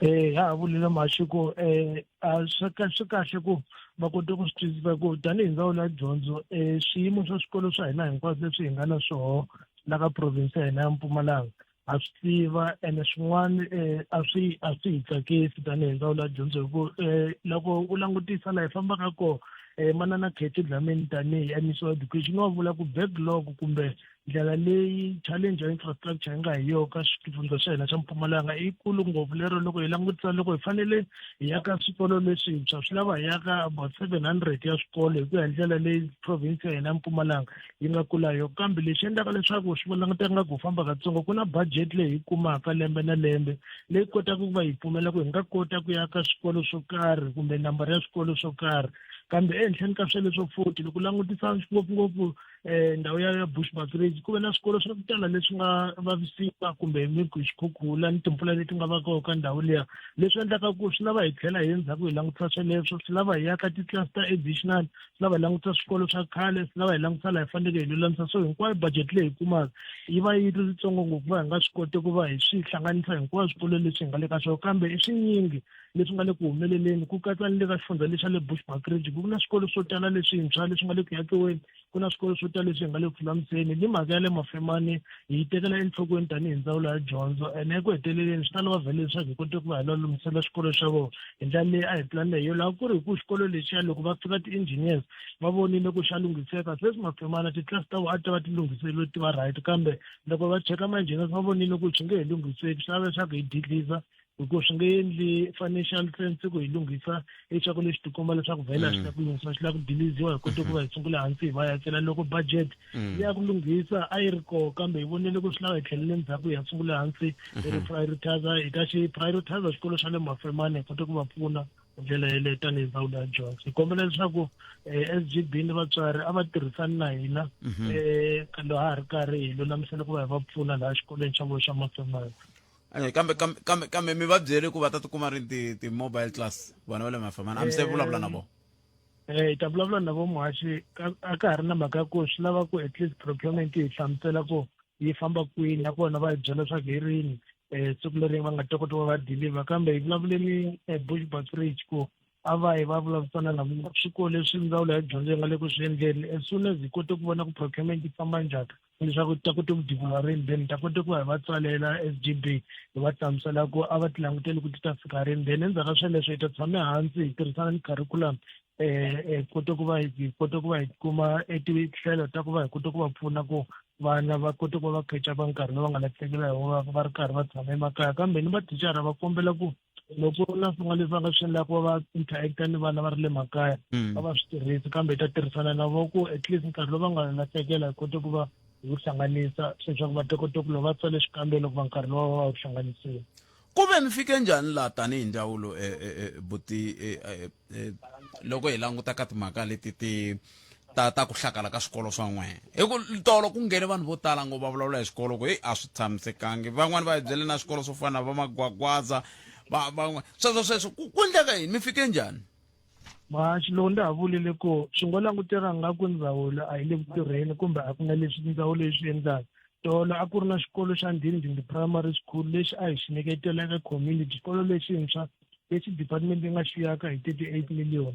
eh ha vulile maxiko eh swi kahle kahle ku va kota ku swi twisisa ku tanihi ndzawulo ya dyondzo eh swiyimo swa swikolo swa hina hinkwaswo leswi hi nga na swoho la ka province ya hina ya Mpumalanga ha swi tiva ene swin'wana um a swi a swi hi tsakisi tanihi ndzawulo ya dyondzo hi ku um loko u langutisa laha hi fambaka kona um manana khetho dlamini tanihi mec wa education wa vula ku backlog kumbe ndlela leyi challenge ya infrastructure yi nga hi yo ka xifundza xa hina xa mpumalanga i kulu ngopfu lero loko hi langutisa loko hi fanele hi ya ka swikolo leswintshwa swi lava hi ya ka about seven hundred ya swikolo hi ku ya hi ndlela leyi province ya hina mpumalanga yi nga kula yo kambe lexi endlaka leswaku swi languteka nga ku famba katsongo ku na budget leyi hi kumaka lembe na lembe leyi kotaka ku va hi pfumela ku hi nga kota ku ya ka swikolo swo karhi kumbe nambara ya swikolo swo karhi kambe ehenhleni ka sweleswo foti loko langutisa ngopfungopfu um eh, ndhawu ya ya bush backridge ku ve na swikolo swa ku tala leswi nga vavisiwa kumbe miku hi xikhukhula ni timpfula leti nga va kona ka ndhawu liya leswi endlaka ku swi lava hi tlhela hi ndzhaku hi langutisa sweleswo swi lava hi ya ka titlasi ta additional swi lava hi langutisa swikolo swa khale swi lava hi langutisa laha hi faneleke hi lulamisa so hinkwayo budget leyi hi kumaka yi va yi ri yitsongo ngopfu va hi nga swi koti ku va hi swi hlanganisa hinkwayo swikolo leswi hi nga le ka swona kambe i swinyingi leswi nga le ku humeleleni ku katsa ni le ka xifundza lexi xa le bushbuck ridge ku na swikolo swo tala leswintshwa leswi nga le ku yakiweni ku na swikolo swo tala leswi hi nga le ku fulamiseni ni mhaka ya le mafemani hi yi tekela enhlokweni tanihi ndzawulo ya dyondzo ene eku heteleleni swi ta lava vhele leswaku hi kote ku va hi la lunghisela swikolo swa vona hi ndlela leyi a hi pulanile hi yo laha ku ri hi ku xikolo lexiya loko va fika ti-engineers va vonile ku xa lunghiseka se swi mafemana titlasi ta vona a ti ta va ti lunghiseriwe ti va right kambe loko va cheka ma-engineers va vonile ku xi nge hi lunghiseki swi lava leswaku hi didliza hikuva swi nge endli financial sense ku hi lunghisa leswaku lexi tikomba leswaku vhele a swi la ku lunghisa swi la ku diliziwa hi kote ku va hi sungula hansi hi va ya tsela loko budget mm. ya ku lunghisa a yi ri koho kambe hi vonele ku swi lava hi tlhelele ndzhaku hi ya sungula hansi hi mm-hmm. ri prioritizer hi ta xi prioritizer xikolo xa le mafemane hi kote ku va pfuna hi ndlela yeleyo tanihi ndzawulo ya dyondzo hi kombela leswaku um eh, s g b ni vatswari a va tirhisani na hina um mm-hmm. eh, loha ha ri karhi hi lulamisela ku va hi va pfuna laha xikolweni xa vona xa mafemane Eh, kambe kambe kambe kambe mi va byele ku va ta tikuma ri ti ti mobile class vana va le mafamana a mi se vulavula na vona eh hi ta vulavula na vo muhaxi a ka ha ri na mhaka ya ku swi lava ku at least procurement yi hlamusela ku yi famba kwini nakona va yi byela leswaku hi rini um siku leri va nga ta kota va va deliver kambe hi vulavule ni eh, bush butridge ku a va yi va vulavurisana na swikolo leswi ndzawulo ya dyondzo yi nga le ku swi endleni as soon as hi kote ku vona ku procurement yi famba njhani leswaku ta kota ku divula rini then ta kota ku hi va tsalela s g b hi va hlamusela ku a va ti languteli ku ti ta fika rini then endzhaku ka sweleswo hi ta tshame hansi hi tirhisana ni curriculum um kota ku va hi kota ku va hi kuma etihlelo ta ku va hi kota ku va pfuna ku vana va kota ku va va catch-apa nkarhi lowu va nga lahlekela hi wona va ri karhi va tshama emakaya kambe ni vatichara va kombela ku loko ku ri na swin'wana leswi va nga swi endlaka ku va va interact ni vana va ri le makaya mm. va va swi tirhisi kambe hi ta tirhisana na vo ku at least nkarhi lowu va nga lahlekela hi kote ku va hi wu hlanganisa leswaku va ta kota ku loko va tsale xikambelo ku va nkarhi lowu va wu hlanganisiwa ku ve mi fike njhani laha tanihi ndzawulo eh, eh, eh, buti loko hi languta ka timhaka leti ti ta ta ku hlakala ka swikolo swa n'wena hi ku tolo ku nghene vanhu vo tala ngo va vulavula hi swikolo ku heyi a swi tshamisekangi van'wani va hi byele na swikolo swo fana na va magwagwaza van'wana sweswo sweswo ku endleka yini mi fike njhani mhaxi lowu ndzi ha vulile ku swi ngo languteka nga ku ndzawulo a yi le ku tirheni kumbe a ku na leswi ndzawulo yi swi endlaka tolo a ku ri na xikolo xa ndhindhindhi primary school lexi a hi xi nyiketeleke community xikolo lexintshwa lexi department yi nga xi yaka hi thirty eight million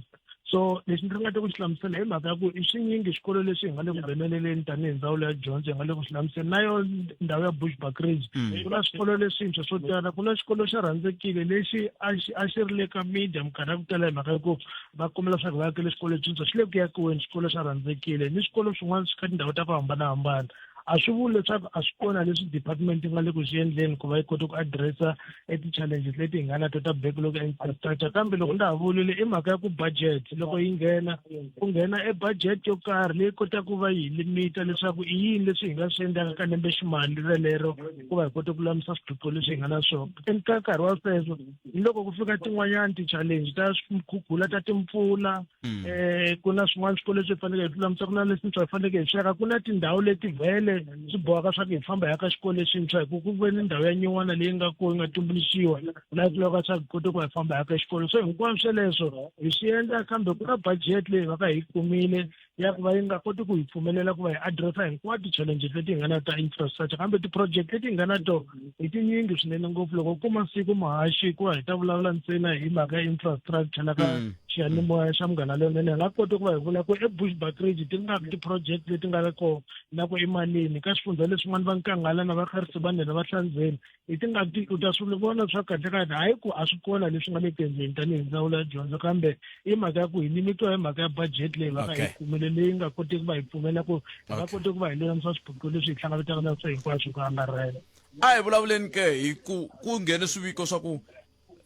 so lexi ndzi ringete ku xi hlamusela hi mhaka ya ku i swinyingi swikolo leswi hi nga le ku ngheneleleni tanihi ndzawulo ya dyondzo hi nga le ku swi hlamusela na yo ndhawu ya bush bacrage mm. ku na swikolo leswintshwa swo tala ku na xikolo xa rhandzekile lexi a xi a xi ri le ka media minkarhi ya ku tala hi mhaka ya ku va kombela swa ku va yakele swikolo leswintshwa xi le ku yakiweni xikolo xa rhandzekile ni swikolo swin'wana swi ka tindhawu ta ku hambanahambana a swi vuli leswaku a swi kona leswi department yi nga le ku swi endleni ku va yi kota ku addressa e ti-challenges leti hi nga na to ta backlog ya infrastructure kambe loko ndza ha vulile i mhaka ya ku budget loko yi nghena ku nghena e budget yo karhi leyi kotaka ku va yi limita leswaku i yini leswi hi nga swi endlaka ka lembe ximali relero ku va hi kota ku lulamisa swiphiqo leswi hi nga na swona and ka nkarhi wa sweswo ni loko ku fika tin'wanyana ti-challenge ta swikhukhula ta timpfula Mm. eh ku na swin'wana swikolo leswi hi faneleke hi tlula mutswari na leswintshwa hi faneleke hi sweka ku na tindhawu leti vhele swi bohaka swa ku hi famba hi ya ka xikolo lexintshwa hi ku ku ve ni ndhawu ya nyin'wana leyi nga ko yi nga tumbuluxiwa laha ku lavaka swa ku kota ku hi famba hi ya ka xikolo so hinkwaswo sweleswo hi swi endla kambe ku na budget leyi va ka hi kumile ya ku va yi nga koti ku hi pfumelela ku va hi addressa hinkwato ti-challenges leti hi nga na ta infrastructure kambe ti-project leti hi nga na to I tinyingi swinene ngopfu loko ku masiku muhaxi hikuva hi ta vulavula ntsena hi mhaka ya infrastructure la ka mm. xiyanimoya xa munghana leyinene hi nga koti ku va hi vula ku ebushbuckridge ti nga ti-project leti nga ri kona na ku emalini ka swifundza leswin'wana va nkanghala na vakharisi va nela va hlandzeni hi ti nga ti u ta swi vona swa kahle kahle hayi ku a swi kona leswi nga le tendleni tanihi ndzawulo ya dyondzo kambe i mhaka ya ku hi nimitiwa hi mhaka ya budget leyi va nga yi kumele leyi nga koteki va hi pfumela ku hi nga koti ku va hi lulamisa swiphiqo leswi hi hlanganetaka na swo hinkwaswo ku angarhela a hi vulavuleni ke hi ku ku nghene swiviko swa ku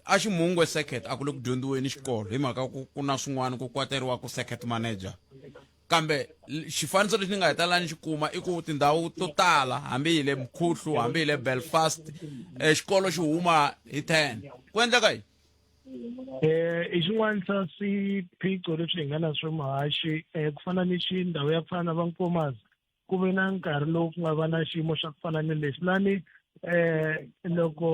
a ximungwe circuit a ku le ku dyondziweni xikolo hi mhaka ku ku na swin'wana ku kwateriwa ku circuit manager kambe xifaniso lexi ni nga hetela ni xi kuma i ku tindhawu to tala hambi hi le mkhuhlu hambi hi le belfast eh, xikolo xi huma hi ten ku endleka yini Eh, i xin'wana xa swiphiqo leswi hi nga na swo muhaxi um ku fana ni xi ndhawu ya ku fana na vankomas ku ve na nkarhi lowu ku nga va na xiyimo xa ku fana ni lexi lani um loko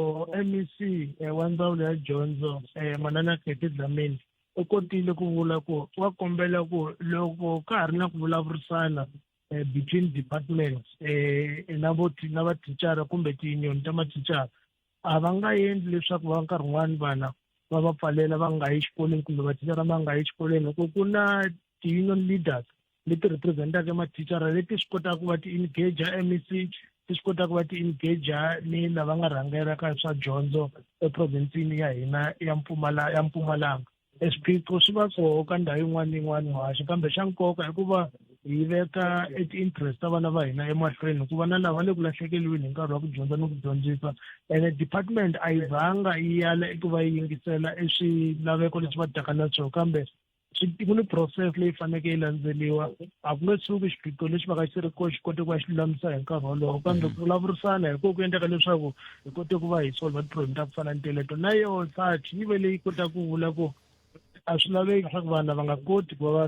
mec eh, wa ndzawulo ya dyondzo um manana keti dlamini u kotile ku vula ku wa kombela ku loko ka ha ri na ku vulavurisana um between departments um na na vathicara kumbe tiyunioni ta mathicara a va nga endli leswaku va nkarhi wun'wani vana va va pfalela va nga yi xikolweni kumbe mathicara ma nga yi xikolweni loko ku na ti-union leaders leti representaka mathicara leti swi kotaka ku va ti-engager mec ti swi kotaka ku va ti-engager ni lava nga rhangelaka swa dyondzo eprovinsini ya hina ya mpfumala ya mpumalanga e swiphiqo swi va koho ka ndhawu yin'wana ni yin'wana muhaxi kambe xa nkoka i ku va hi veka e ti-interest ta vana va hina emahlweni hikuva na lava le ku lahlekeliweni hi nkarhi wa ku dyondza ni ku dyondzisa ene department a yi zanga yi yala eku va yi yingisela e swilaveko leswi va taka na swona kambe ku ni process leyi faneke yi landzeliwa a ku nge suki xiphiqo lexi va ka xi ri ko xi kote ku va xi lulamisa hi nkarhi wolowo kambe ku vulavurisana hi ko ku endleka leswaku hi kote ku va hi solva tiproblem ta ku fana ni teleto na yo sach yi ve leyi kota ku vula ku a swi laveki leswaku vanhu lava nga koti ku va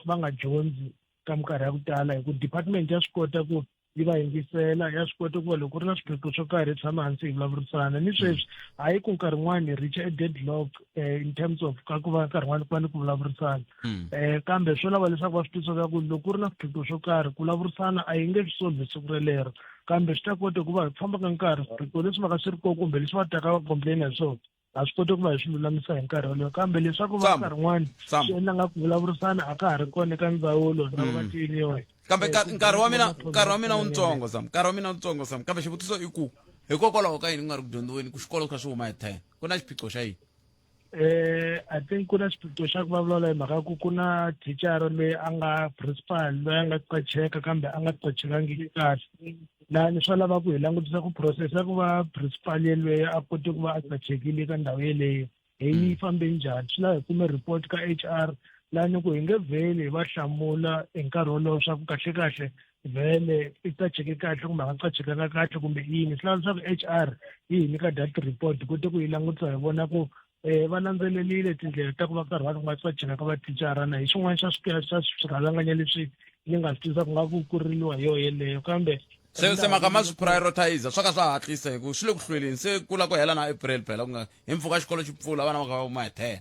va nga dyondzi ka minkarhi ya ku tala hi ku department ya swi kota ku yi va yingisela ya swi kota ku va loko ri na swiphiqo swo karhi hi tshama hansi hi vulavurisana ni sweswi hayi ku nkarhi wun'wani hi reacha deadlock eh, in terms of ka ku va nkarhi wun'wani ku va ni ku vulavurisana um kambe swo lava leswaku va swi twisaka ku loko ku ri na swiphiqo swo karhi ku vulavurisana a yi nge swi solvi siku relero kambe swi ta kota ku va hi famba ka nkarhi swiphiqo leswi va ka swi ri kona kumbe leswi va taka va complain hi swona a swi koti ku va hi swi lulamisa hi nkarhi wolowo kambe leswaku va nkarhi n'wana swi endla nga ku vulavurisana a ka ha ri kona eka ndzawulo na mm. vatiyiniwa kambe nkarhi wa mina nkarhi wa mina wutsongo sam nkarhi wa mina wutsongo sam kambe xivutiso i ku hikokwalaho ka yini ku nga ri ku dyondziweni ku xikolo kha swi huma hi ten ku na xiphiqo xa yini Eh, I think ku na xiphiqo xa ku vulavula hi mhaka ku ku na thicara loyi a nga principal loyi a nga qacheka kambe a nga qachekangiki kahle lani swa lava ku hi langutisa ku process ya ku va principal yelweyo a kote ku va a qachekile eka ndhawu yeleyo hi yi mm. fambe njhani swi lava hi kume report ka h r lani ku hi nge vheli hi va hlamula hi nkarhi wolowo swa ku kahlekahle vhele i qacheke kahle kumbe a nga qachekanga kahle kumbe yini swi lava leswaku h r yi hi nyika dat report kute ku yi langutisa hi vona ku um va landzelelile tindlela ta ku va karhi va ri nga qacheka ka vaticara na hi xin'wana xa xa swirhalanganya leswi ni nga swi tisa ku nga ku kuririwa hi yoho yeleyo kambe se se maka ma swi prioritize swa ka swa hatlisa hi ku swi le ku hlweleni se ku la ku hela na april phela ku nga hi mpfhuka xikolo xi pfula vana va ka va kuma hi ten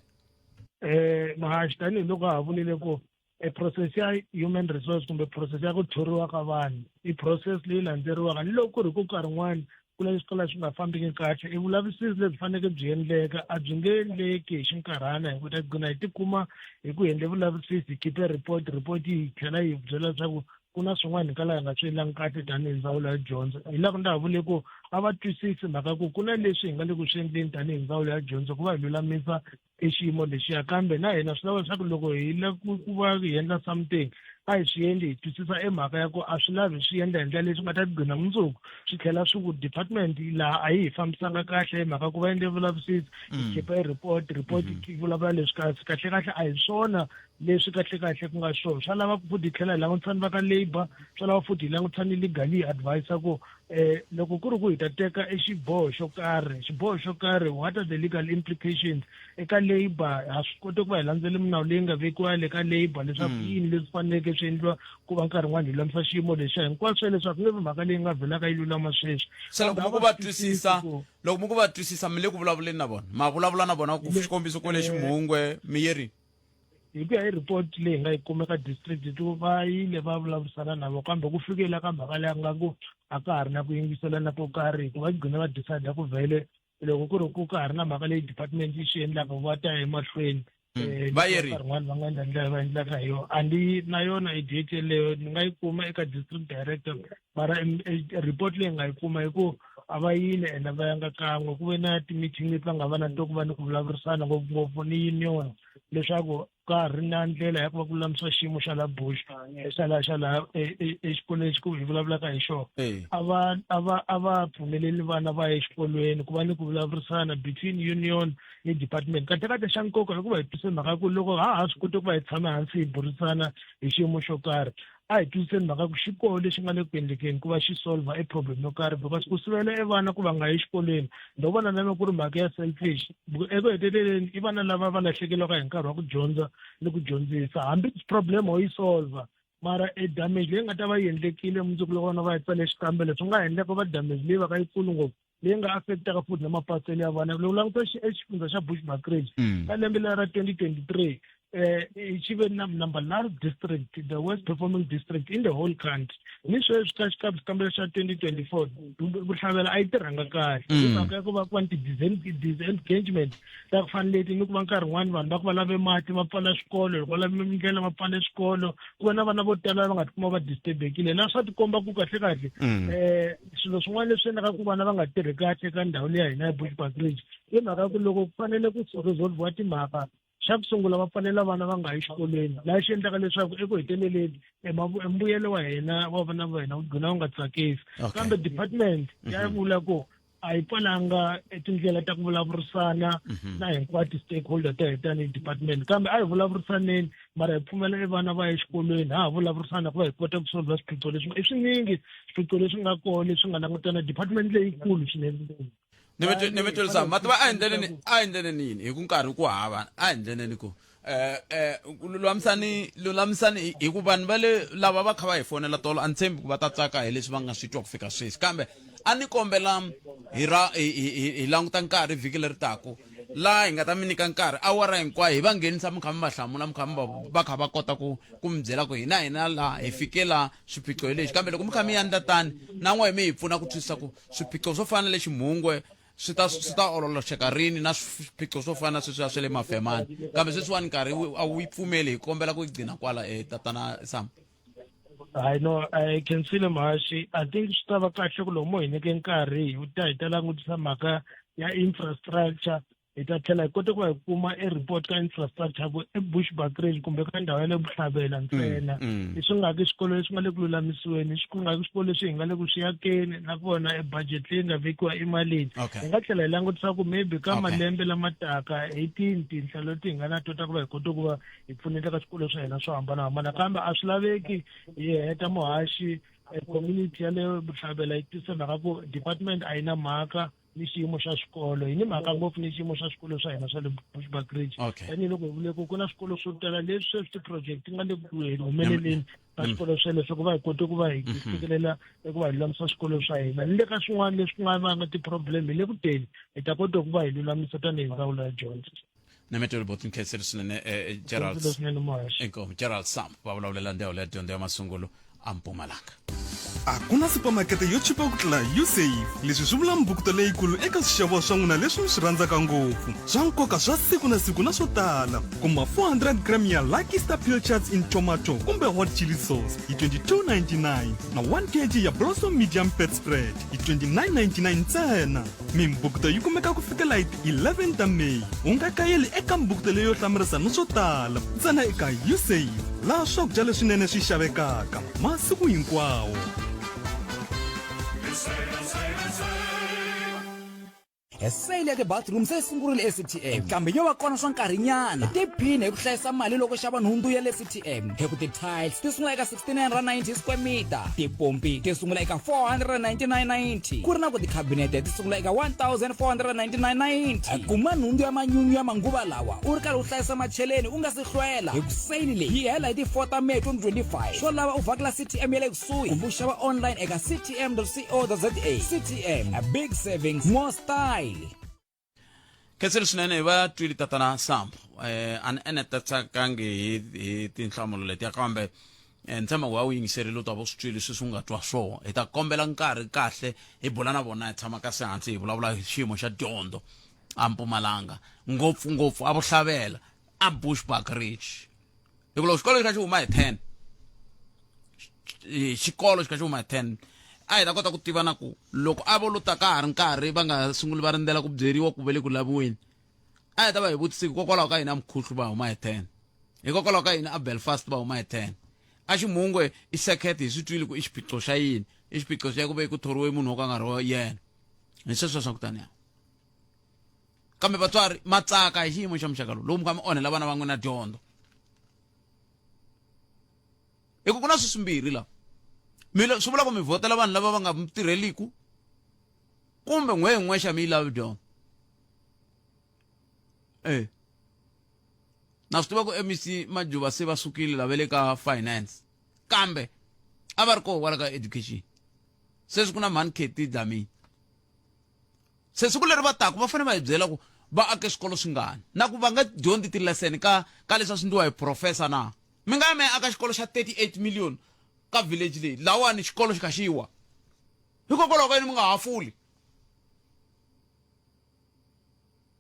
um mahaxi tanihiloko a ha vulile ku e process ya human resource kumbe process ya ku thoriwa ka vanhu i process leyi landzeriwaka ni loko ku ri ku nkarhin'wana ku la swikala swi nga fambiki kahle i vulavisisi lebyi faneleke byi endleka a byi nge endleki hi xinkarhana hi ku ta gcina hi tikuma hi ku endle vulavisisi hi khipe report report yi tlhela yi byela leswaku ku na swin'wana hi kala hi nga swi endlangi kahle tanihi ndzawulo ya dyondzo hi laha ku ndza ha vule ku a va twisisi mhaka ku ku na leswi hi nga le ku swi endleni tanihi ndzawulo ya dyondzo ku va hi lulamisa i xiyimo lexiya kambe na hina swi lava leswaku loko hi la ku ku va hi endla something a hi swi endli hi twisisa i mhaka ya ku a swi lavi swi endla hi ndlela leyi swi nga ta gcina mundzuku swi tlhela swi ku department laha a yi hi fambisanga kahle hi mhaka ku va endle vulavisisi hi mm. khipa i report report yi mm-hmm. vulavula leswi kasi kahlekahle a hi swona leswi kahlekahle ku nga swona swa lava futhi hi tlhela hi langutisa ni va ka labour swa lava futhi hi langutisa ni legal yi advisa ku eh, loko ku ri ku hi ta teka e xiboho xo karhi xiboho xo karhi what are the legal implications eka labour ha swi koti ku va hi landzele minawu leyi nga vekiwa le ka labour leswaku hmm. yini leswi faneleke swi endliwa ku va nkarhi n'wana hi lulamisa xiyimo lexiya hinkwaswo leswaku nge vi mhaka leyi nga velaka yi lulama sweswi se loko mi ku va twisisa loko mi ku va twisisa mi le ku vulavuleni na vona ma vulavula na vona ku xikombiso ko le eh. ximhungwe mi yerini hi ku ya hi report leyi nga yi kume ka district to va yile va vulavurisana na vo kambe ku fikela ka mhaka leyi nga ku a ka ha ri na ku yingiselana ko karhi hikuva yi gcine va decide ku vhele loko ku ri ku ka ha ri na mhaka leyi department yi swi endlaka va ta emahlweni hmm. eh, vayeri rin'wana va nga endla ndlela va endlaka hi yona a ndi na yona idate yeleyo ni nga yi kuma eka district director mara report leyi nga yi kuma hi ku a va yile ene va yanga kan'we ku ve na ti-meeting leti va nga va na to ku va ni ku vulavurisana ngopfungopfu ni union leswaku ka ha ri na ndlela ya ku va ku lulamisa xiyimo xa la bush xa la xa laha exikolweni xi ku hi vulavulaka hi xona a va a va a va pfumeleli vana va ya exikolweni ku va ni ku vulavurisana between union ni department katekate xa nkoka hikuva hi tise mhaka ku loko ha ha swi koti ku va hi tshame hansi hi burisana hi xiyimo xo karhi a hi twisiseni mhaka ku xi koho lexi nga le ku endlekeni ku va xi solver e problem yo karhi because ku sivela e vana ku va nga yi exikolweni ndo vona na loko ku ri mhaka ya selfish eku heteleleni i vana lava va lahlekelaka hi nkarhi wa ku dyondza ni ku dyondzisa hambi problem ho yi solver mara e damage leyi nga ta va yi endlekile mundzuku loko vana va yi tsale xikambelo swi nga ha endleka va damage leyi va ka yi kulu ngopfu leyi nga affectaka futhi na mapatselo ya vana loko languta exifundza xa bushbuckridge mm. ka lembe leri ra 2023 eh xi ve na number nine district the worst performing district in the whole country ni sweswi ka xikabi xikambelo xa 2024 vuhlavela a yi tirhanga kahle mm. hi mhaka ya ku va ku va ni ti-disengagement ta ku fana leti ni ku va nkarhi wun'wani vanhu va ku va lave mati va pfala swikolo loko va lave ndlela va pfale swikolo ku va na vana vo tala va nga tikuma va disturbekile laha swa tikomba ku kahlekahle um mm. eh, swilo swin'wana leswi endlaka ku vana va nga tirhi kahle ka ndhawu leyi ya hina ya bushback ridge i mhaka ya ku loko ku fanele ku resolviwa timhaka xa ku sungula va pfalela vana va nga yi xikolweni laha xi endlaka leswaku eku heteleleni embuyelo wa hina wa vana va hina wu gcina wu nga tsakisi kambe department mhm. ya vula ku a yi pfalanga tindlela ta ku vulavurisana mhm. na hinkwato stakeholder ta hetani department kambe a hi vulavurisaneni mara hi pfumela i vana va ya exikolweni ha ha vulavurisana ku va hi kota ku solva swiphiqo leswi i swinyingi swiphiqo leswi nga kona leswi nga langutana department leyikulu swinene ni mi twelisa mati va a endleleni a endleleni yini hi ku nkarhi ku hava a endleleni ku eh eh lulamisani lulamisani hi ku vanhu va le lava va kha va hi fonela tolo a ni tshembi ku va ta tsaka hi leswi va nga swi twa ku fika sweswi kambe a ni kombela hi ra hi languta nkarhi vhiki leri taku laha hi nga ta mi nyika nkarhi awara hinkwayo hi va nghenisa mi kha mi va hlamula mi kha mi va kha va kota ku ku mi byela ku hina hina laha hi fike laha swiphiqo hi lexi kambe loko mi kha mi yandla tani na n'we mi hi pfuna ku twisisa ku swiphiqo swo fana na le ximhungwe swi ta swi ta ololoxeka rini na swiphiqo swo fana na sweswiya swa le mafemani kambe sweswiwani nkarhi a wu yi pfumeli hi kombela ku yi gcina kwala e tatana sam hayi no i can see le mhashi i think swi ta va kahle ku lomu hi nyike nkarhi hi ta hi ta langutisa mhaka ya infrastructure hi ta tlhela hi kote ku va hi kuma e report ka infrastructure ku ebush backrange kumbe ka ndhawu ya le vuhlabela ntsena mm, mm. leswi nga ki swikolo leswi nga le ku lulamisiweni swi ku nga ki swikolo leswi hi nga le ku swi yakeni nakona e budget leyi nga vekiwa emalini hi nga tlhela hi langutisa ku maybe ka malembe lama taka eighteen tinhla leti hi nga na tota ku va hi kote ku va hi pfuneta ka swikolo swa hina swo hambanahambana kambe a swi laveki hi heta muhaxi eh, community ya le vutlhavela yi tisa mhaka ku department a yi na mhaka ni xiyimo xa xikolo hi ni mhaka ngopfu ni xiyimo xa xikolo swa hina swa le bushback ridge tanihiloko hi vule ku ku na swikolo swo tala leswi sweswi ti-project ti nga le ku humeleleni ka mm. swikolo swele swo ku va hi kote ku va hi mhm. fikelela eku va hi lulamisa swikolo swa hina ni le ka swin'wana leswi ku nga vanga ti-problem hi le kuteni hi ta kota ku va hi lulamisa tanihi ndzawulo ya dyondzo na mi twela boti nkheseri swinene eh, gerald Swinene Mash. inkomu gerald sam va vulavulela ndzhawu leya dyondzo ya masungulo a mpumalanga a ku na supamakete yo chipa ku tlula usafe leswi swi vula mbukuto leyikulu eka swixevo swa n'wina leswi mi swi rhandzaka ngopfu swa nkoka swa siku na siku na swo tala kuma 400 gram ya lucky star pill charts in tomato kumbe hot chili sauce hi 2299 na 1 kg ya blossom medium fat spread hi 2999 ntsena Mimbukto yi kumeka ku fikela hi ti 11 ta May. U nga kayeli eka mbukto leyo hlamarisa ni swo tala ntsena eka Usave, laha swakudya leswinene swi xavekaka masiku hinkwawo. E sale ya tibathroom se yi sungurile eCTM kambe yo va kona swa nkarhinyana. Hi tiphine hi ku hlayisa mali loko xava nhundzu ya le CTM hi ku ti-tiles ti sungula eka 390 square meter tipompi ti sungula eka 499.90 ku ri na ku tikhabinete ti sungula eka 1499.90 kuma nhundzu ya manyunyu ya manguva lawa u ri karhi u hlayisa macheleni u nga si hlwela hi ku seyili leyi yi hela hi ti 4 ta may 2025 swo lava u vhakela ctm ya le kusuhi kumbe u xava online eka ctm co za ctm a big savings more style khensile swinene hi va twili tatana sambo um eh, a ni enetatshakangi hi hi tinhlamulo letiya kambe um ni tshemba ku va wu yingiserile u ta vo swi twile swi swi nga twa swona hi ta kombela nkarhi kahle hi bula na vona hi tshama kasi hansi hi vulavula hi xiyimo xa dyondzo a mpumalanga ngopfungopfu a vuhlavela a bushbuck ridge hi ku loko xikolo xi kha xi huma hi ten xikolo xi kha xi huma hi ten a hi ta kota ku tiva na ku loko a vo lo ta ka ha ri nkarhi va nga sunguli va rindzela ku byeriwa ku ve le ku laviweni a hi ta va hi vutisiki hikokwalaho ka yini a mukhuhlu va huma hi ten hikokwalaho ka yini a belfast va huma hi ten a ximhungwe i circuit hi swi twile ku i xiphiqo xa yini i xiphiqo xa ku ve ku thoriwe munhu wo ka nga ri yena hi sweswo swa ku taniya kambe vatswari ma tsaka hi xiyimo xa muxaka lowu lowu mi kha mi onhela vana va n'wina dyondzo hi ku ku na swisimbirhi laha mi swi vula ku mi vhotela vanhu lava va nga mi tirheliku kumbe n'we hi n'we xa mi yi lavi dyondzo e na swi tiva ku mec majuva se va sukile lava le ka finance kambe a va ri koho kwala ka education sweswi ku na mhani keti dlamini se siku leri va taku va fanele va hi byela ku va ake swikolo swingani na ku va nga dyondzi tileseni ka ka leswi a swi ndliwa hi professor na mi nga ya mi ya aka xikolo xa 38 million ka village leyi lawani xikolo xi kha xi wa hikokwalaho ka yini mi nga hafuli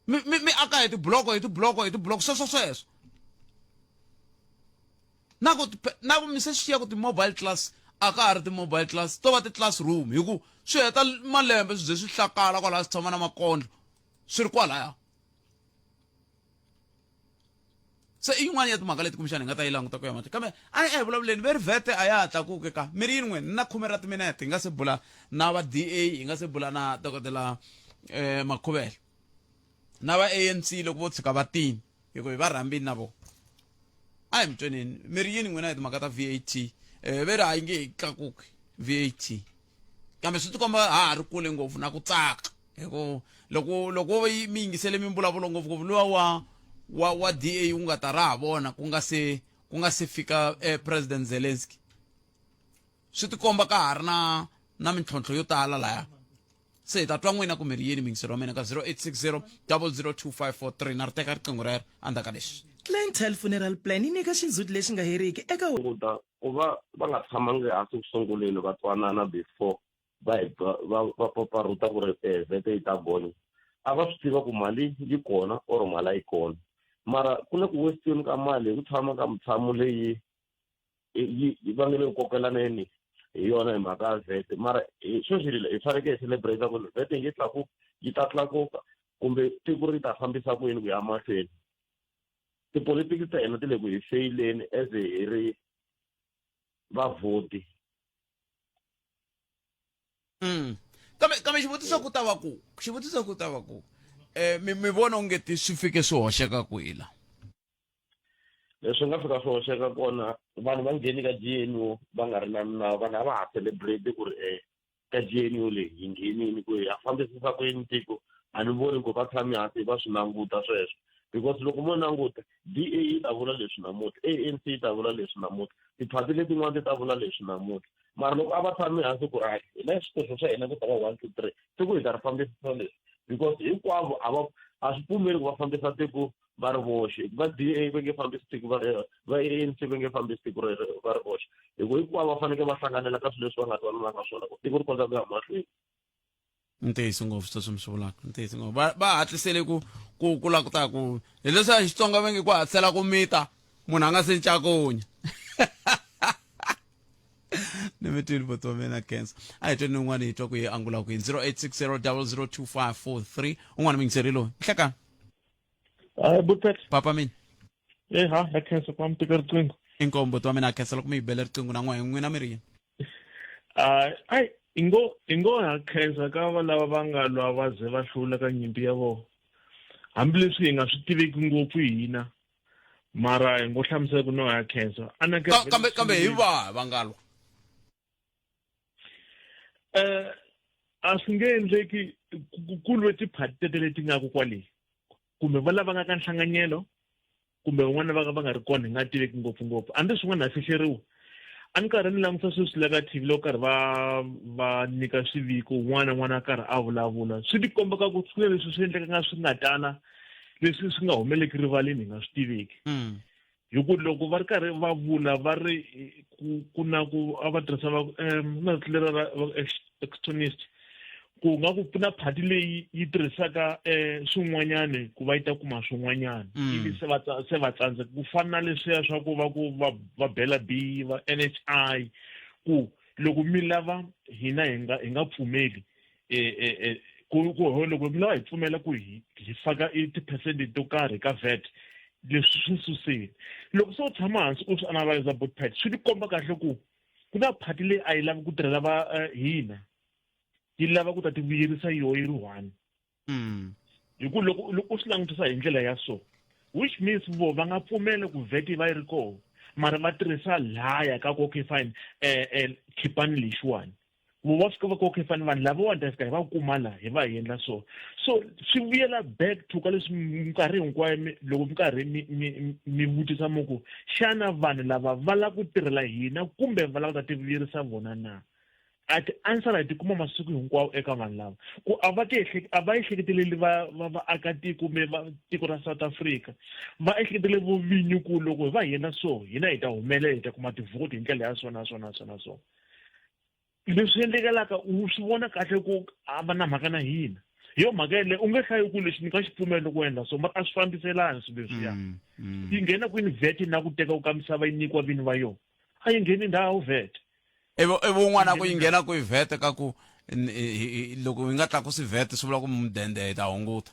mi mi mi aka hi tibloko hi tibloko hi tibloko sweswo sweswo na ku na ku mi se swi xiya ku ti-mobile class a ka ha ri ti-mobile class to va ti-classroom hi ku swi heta malembe swi ze swi hlakala kwalaha swi tshama na makondlo swi ri kwalaya se i yin'wana ya timhaka leti kumbexana hi nga ta yi languta ku ya mahlweni kambe a hi vulavuleni ve rivhete a ya ha tlakuke ka mi ri yin'we na khume ra timinete hi nga se bula na va da hi nga se bula na dokodela um eh, makhuvela na va anc loko vo tshuka va tini hikuva hi va rhambini na vona a hi mi tweneni mi ri yini n'wina hi timhaka ta vat um eh, ve ri ha yi nge hi tlakuki vat kambe swi tikomba ha ha ri kule ngopfu na ku tsaka hi ku loko loko wo yi mi yingisele mimbulavulo ngopfungopfu luwa wa wa wa da wu nga ta ra ha vona ku nga se ku nga se fika eh, president zelensky swi tikomba ka ha ri na na mintlhontlho yo tala laya se hi ta twa n'wina kumbe ri yini mingiselo wa mina ka 0860 002543 na ri teka riqingho rero endzhaku ka leswi Clientele Funeral Plan yi nyika xindzhuti lexi nga heriki eka hunguta ku va va nga tshamangi hansi ku sunguleni va twanana before va hi ba- va va paparuta ku ri eh, vhete yi ta gonya a va swi tiva ku mali yi kona or mali a yi kona mara ku le ku westeni ka mali hi ku tshama ka mutshamo leyi eh, yi yi va nge le ku kokelaneni hi yona hi mhaka ya vhete mara eh, sweswi hi hi fanekele hi celebrate ku ri vhete yi tlakuka yi ta tlakuka kumbe tiko ri ta fambisa ku yini ku ya mahlweni tipolotiki ta hina ti le ku hi feyileni as hi ri vavhoti mm. kambe kambe xivutiso ku ta va ku xivutiso ku ta va ku um mi mi vona onge ti swi fike swi hoxeka kwila leswi nga fika swi hoxeka kona vanhu va ngheni ka gmo va nga ri na minawu vanhu a va ha celebrate ku ri um ka gnu leyi yi nghenini ku ya fambisisa ku yini tiko a ni voni ku va tshami hansi va swi languta sweswo because loko mo languta d a yi ta vula leswi namutlha a n c yi ta vula leswi namutlha tiphati letin'wana ti ta vula leswi namutlha mara loko a va tshami hansi ku ri hina swikoxo swa hina ku ta va one two three siku hi ta ri fambisisa leswi because hinkwavo a va a swi pfumeli ku va fambisa tiko va ri voxe va d a va nge fambi siku va ri va anc va nge fambi siku ri va ri voxe hi ku hinkwavo va fanekele va hlanganela ka swilo leswi va nga twananaka swona ku tiko ri kota ku ya mahlweni ntiyiso ngopfu sweswi mi swi vulaka ntiyiso ngopfu va va hatlisele ku ku ku la ku ta ku hileswi a xitsonga va nge ku hatlisela ku mita munhu a nga se ncakunya ni mi twini boti wa mina cancer a hi tweni ni un'wana hi twa ku yi angula kwini 0860 002 543 un'wana mi ngiseriloni nhlekani Hi, Butet. papa mina Hey, ha, ha khensa kwa mtika riqingho. inkombo to mina khesela ku mi bela riqingho na n'wina n'wina mi ri yini Ah, ai, ingo ingo ha khensa ka va lava va nga lwa va ze va hlula ka nyimpi ya vona. Hambileswi hi nga swi tiveki ngopfu hina. Mara hi ngo hlamusela ku no ha khensa. Ana Ka- kambe kambe hi va vangalwa eh a swi nge endleki ku lwe tiphati tete leti nga ku kwale kumbe va lava nga ka nhlanganyelo kumbe van'wana va va nga ri kona hi nga tiveki ngopfungopfu a ndzi swin'wana ha fihleriwa a ni karhi ni langusa sweswi la ka tv loko karhi va va nyika swiviko un'wana n'wana a karhi a vulavula swi ti komba ka ku swi na leswi swi endleka nga swi nga tala leswi swi nga humeleki rivaleni hi nga swi tiveki hmm. hi ku loko va ri karhi va vula va ri ku na ku a va tirhisa va na tlilera ra extonist ku nga ku pfuna phati leyi yi tirhisaka um swin'wanyani ku va yi ta kuma swin'wanyani mm. ivi se va se va tsandzeka ku fana na leswiya swa ku va ku va va bela b va n h i ku loko mi lava hina hi nga hi nga pfumeli e, e, e, ku ku ho loko mina hi pfumela ku hi hi faka tiphesenti to karhi ka vat leswi swi susile loko se u tshama hansi u swi analyza both part swi tikomba kahle ku ku na phati leyi a yi lavi ku tirhela va eh, hina yi lava ku ta ti vuyerisa yoho yi ri one hmm. hi ku loko loko u swi langutisa hi ndlela ya so which means vo va nga pfumela ku vat yi va yi ri koho mara va tirhisa laya ka ku okay fine um eh, um eh, khipani lexiwani ku va swi kova ku okay fani vanhu lavawa ni ta fika hi va kuma la hi va hi endla so so swi vuyela back to ka leswi minkarhi hinkwayo loko mi karhi mi vutisa mi ku xana vanhu lava va lava ku tirhela hina kumbe va lava ku ta tivuyerisa vona na a ti-answer hi ti kuma masiku hinkwawo eka vanhu lava ku a va ti a va ehleketeleli va va vaakatiko kumbe va tiko ra south africa va ehleketelele vovinyi ku loko hi va hi endla so hina hi ta humelela hi ta kuma tivhoti hi ndlela ya so na so na so na so leswi endlekelaka u swi vona kahle ku a va na mhaka na hina hi yo mhaka yeleyo u nge hlayi ku lexi ni nga xi pfumeli ku endla so mara a swi fambiselani swilo leswiya mm, mm. yi nghena kwini vhete na ku teka ku ka misava yi nyikiwa vini va yona a yi ngheni ndhawu vhete ivi un'wana a ku yi nghena ku yi vhete ka ku loko yi nga tlakusi vhete swi vula ku mudende hi ta hunguta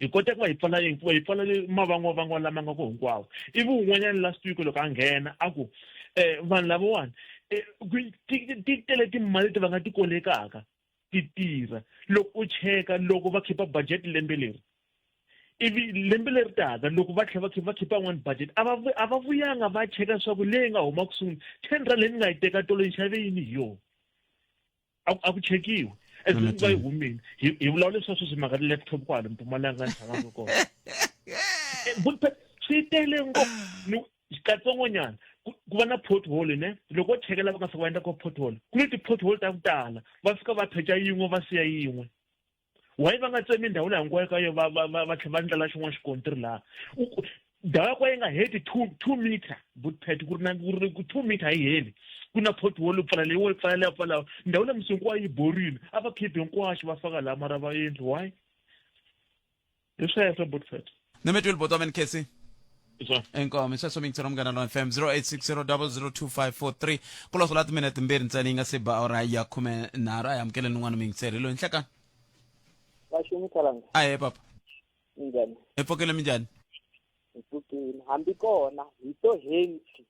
hi kota ku va hi pfala yini ku va hi pfala mavangwavangwa lama nga ko hinkwawo ivi un'wanyana last week loko a nghena a ku um vanhu lavawani eh, ti tele timali leti va nga ti kolekaka ti tirha loko u cheka loko va khipa budget lembe leri ivi lembe leri taka loko va tlhela va khipa va khipa yin'wani budget a va a va vuyanga va cheka leswaku leyi nga huma ku sungula ten rand leyi ni nga yi teka tolo yi xave yini hi yona a ku chekiwi as long va yi humile hi vulavula leswi sweswi mhaka ti-laptop kwale mpumalanga ni tshamaka kona eh, swi tele ngopfu katsongonyana ku va na pothole ne loko wo chekela va nga fika va endla ko pothole ku ni ti-pothole ta ku tala va fika va pheca yin'we va siya yin'we why va nga tsemi ndhawu leyi hinkwayo ka yo va va va va tlhela va ndlela xin'wana xikontiri laha ndhawu ya kwa yi nga heti two two meter butpet ku ri na ku ri two meter yi heli ku na pothole pfala leyi wo pfala leyi pfala ndhawu leyi misi hinkwayo yi borile a va khiphi hinkwaxo va faka laha mara va endli why hi sweswo butfet ni mi twile botomen kesi inkomo iseswo mi ngitsela umngana lona fm 0860002543 ku losola timene timbirhi ntsena yi nga se ba ora ya khume nharhu a hi amukeleni un'wana mi ngitsela hi loyi nhlekani vaxingu tsalanga a he papa njhani hi pfokile mi njhani hi pfukile hambi kona hi to henti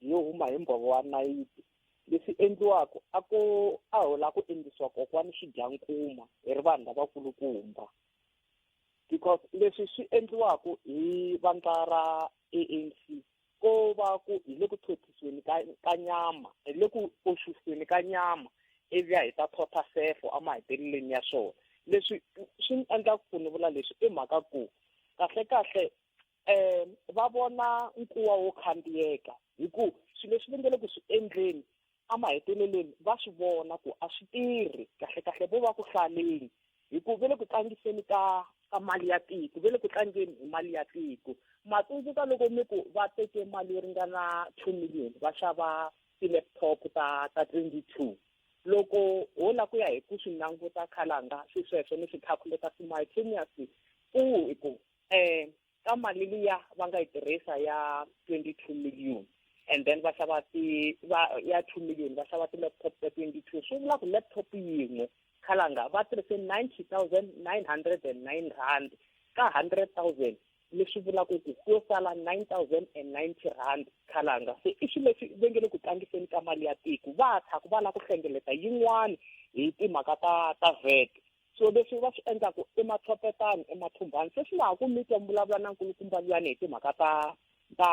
hi yo huma hi mbhovo wa nayiti leswi endliwaka a ko a hola ku endlisiwa kokwani xidyankuma hi ri vanhu lavakulukumba because leswi swi endliwaka hi vandla ra ANC ko va ku hi le ku tlhothisweni ka ka nyama hi le ku oxusweni ka nyama ivi ya hi ta thotha sefo emaheteleleni ya swona leswi swi ni endla ku ni vula leswi i mhaka ku kahle kahle um va vona nkuwa wo khandziyeka hi ku swilo leswi va nge le ku swi endleni emahetelelweni va swi vona ku a swi tirhi kahlekahle vo va ku hlaleni hi ku ve le ku tlangiseni ka ka mali ya tiko ve le ku tlangeni hi mali ya tiko ma tsundzuka loko mi ku va teke mali yo ringana two million va xava ti-laptop ta ta twenty two loko ho la ku ya hi ku swi languta khalanga swi sweswo ni swi calculata simultaneously ku hi ku eh ka mali liya va nga yi tirhisa ya 22 million and then va xava ti va ya 2 million va xava ti-laptop ta 22 swi vula ku laptop yin'we khalanga va tirhise 90909 rand ka 100000 leswi vulaka ku ku yo sala 9090 rand khalanga se i swilo leswi va nge le ku tlangiseni ka mali ya tiko va tshaka va lava ku hlengeleta yin'wana hi timhaka ta ta vet so leswi va swi endlaku i mathopetani i mathumbani se swi nga ha ku mi twa mi vulavula na nkulukumba luyani hi timhaka ta ta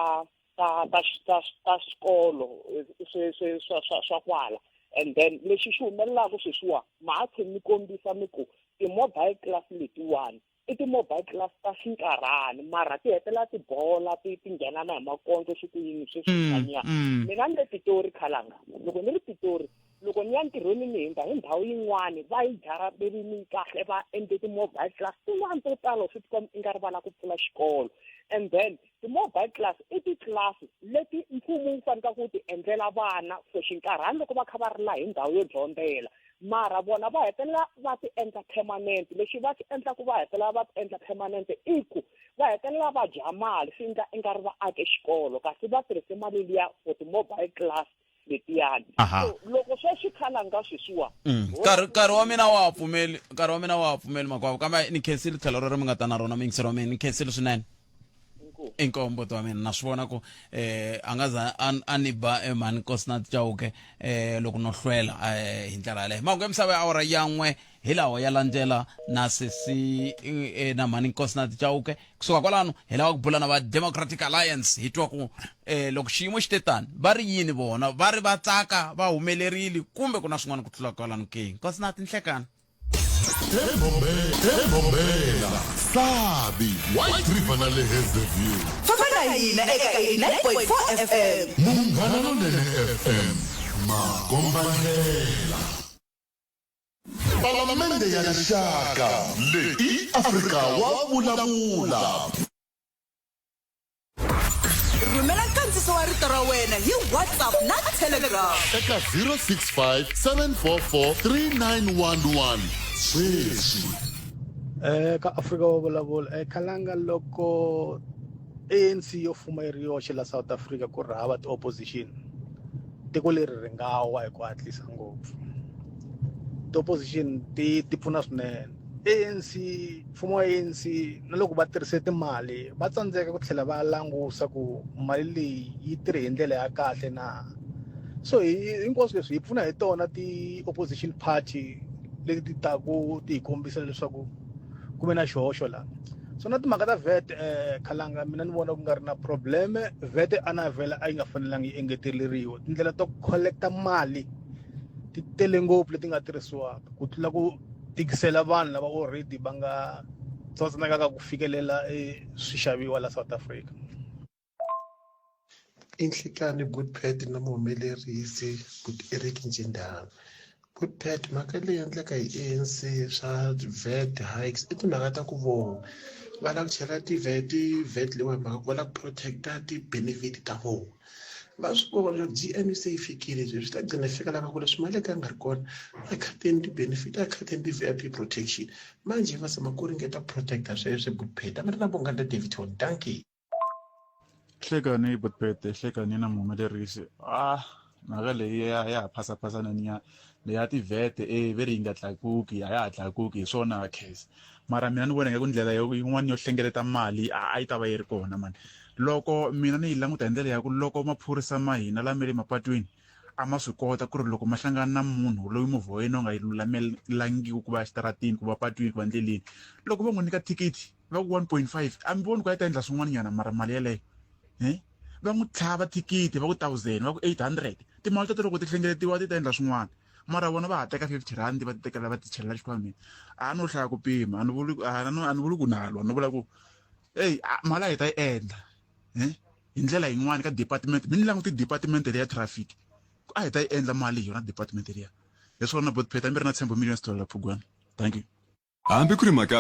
ta ta ta ta swikolo swa kwala and then lexi xi humelelaka sweswiwa ma ha tlhe mi kombisa mi ku ti-mobile class letiwani i ti-mobile class ta xinkarhani mara ti hetela tibola ti ti nghenana hi makondzo swi ku yini sweswi mm, mm. mina ni le pitori khalanga loko ni ri pitori loko ni ya ntirhweni ni hundza hi ndhawu yin'wani va yi jarabelini kahle va endle ti-mobile class tin'wani to tala swi tikom i nga rivala ku pfula xikolo and then ti-mobile class i titlasi leti mfumo wu faneleka ku ti endlela vana for xinkarhani loko va kha va ri la hi ndhawu yo dyondzela mara vona va hetelela va ti endla permanent lexi va ti endlaku va hetelela va ti endla permanent i ku va hetelela va dya mali swi endla i nga ri va ake xikolo kasi va tirhise mali liya for ti-mobile class letiyani Aha. so loko swa swi khala nga sweswiwa Mm. Nkarhi- nkarhi wa mina wa ha pfumeli nkarhi wa mina wa ha pfumeli makwavo kambe ni khensile tlhelo rero mi nga ta na rona mingisero wa mina ni khensile swinene Inkosi. inkomu mbuti wa mina na swi vona ku eh a nga za a- a ni ba eh, mhani kosina chauke eh loko no hlwela eh hi ndlela yaleyo mahungu ya misava ya awara ya n'we hi lawa ya landzela na sesi eh, na mhani nkosi na tichauke kusuka kwalano hi lava ku bula na va democratic alliance hi twa ku eh, loko xiyimo xi te tani va ri yini vona va ri va tsaka va humelerile kumbe ku na swin'wana ku tlula kwalano ke nkosi na tinhlekani egombela sabi white river na le hazelview famba na hina eka 89.4 fm munghana lonene fm makombandlela Palamende ya Rixaka, leyi i Afrika wa vulavula. Rhumela nkandziso wa rito ra wena hi WhatsApp na Telegram. Eka 065 744 3911 sweswi. Eh ka Afrika wa vulavula eh khalanga loko ANC yo fuma yi ri yoxe la South Africa ku ri hava ti opposition. tiko leri ri nga wa hi ku hatlisa ngopfu ti-opposition ti ti pfuna swinene anc mfumo wa anc na loko va tirhise timali va tsandzeka ku tlhela va langusa ku mali leyi yi tirhe hi ndlela ya kahle na so hinkwaswo leswi hi pfuna hi tona ti-opposition party leti taku ti hi kombisa leswaku ku ve na xihoxo laha so na timhaka ta vet eh khalanga mina ni vona ku nga ri na problem vet a na vela a yi nga fanelanga yi engeteleriwa tindlela to collecta mali ti tele ngopfu leti nga tirhisiwaka ku tlula ku tikisela vanhu lava already va nga tsotsanakaka ku fikelela e swixaviwa la South Africa inhlikani good pet na muhumelerisi good eric njindana good pet mhaka leyi endleka hi anc swa vet hikes i timhaka ta ku vona va lava ku chela tivet vet leyiwani mhaka ku va lava ku protecta ti-benefit ta vona va swi vona leswaku g m se yi fikile leswi swi ta gcina yi fika lava ku leswi mali ka nga ri kona a khateni ti-benefit a khateni ti-v i p protection manje va zama ku ringeta ku protecta sweswo good pet a mi ri na vunghana david hon dankie hlekani yi botbete hlekani na muhumelerisi ah mhaka leyi ya ya ha phasaphasana ni ya leyi ya tivhete e ve ri yi nga tlakuki a ya ha tlakuki hi swona khese mara mina ni vona nga ku ndlela yin'wana yo hlengeleta mali a yi ta va yi ri kona mani loko mina ni yi languta hi ndlela ya ku loko maphorisa ma hina lama le mapatwini a ma swi kota ku ri loko ma hlangana na munhu loyi movha wa yena u nga yi lulamelangiku ku va exitaratini ku va patwini ku va ndleleni loko va n'wi nyika thikithi va ku 1.5 a mi voni ku a yi ta endla swin'wanyana mara mali yeleyo um va n'wi tlhava thikithi va ku thousand va ku 800 timali teto loko ti hlengeletiwa ti ta endla swin'wana mara vona va ha teka 50 rand va ti tekela va ti chelela xikhwameni a no hlaya ku pima a ni vuli a ni vuli ku nalwa ni vula ku eyi mali a hi ta yi endla um hi ndlela yin'wana ka department mi ni languti department leya traffic ku a hi ta yi endla mali hi yona department leya hi swona botpeta mi ri na tshembo millions dollar phugwana thank you hambi ku ri mhaka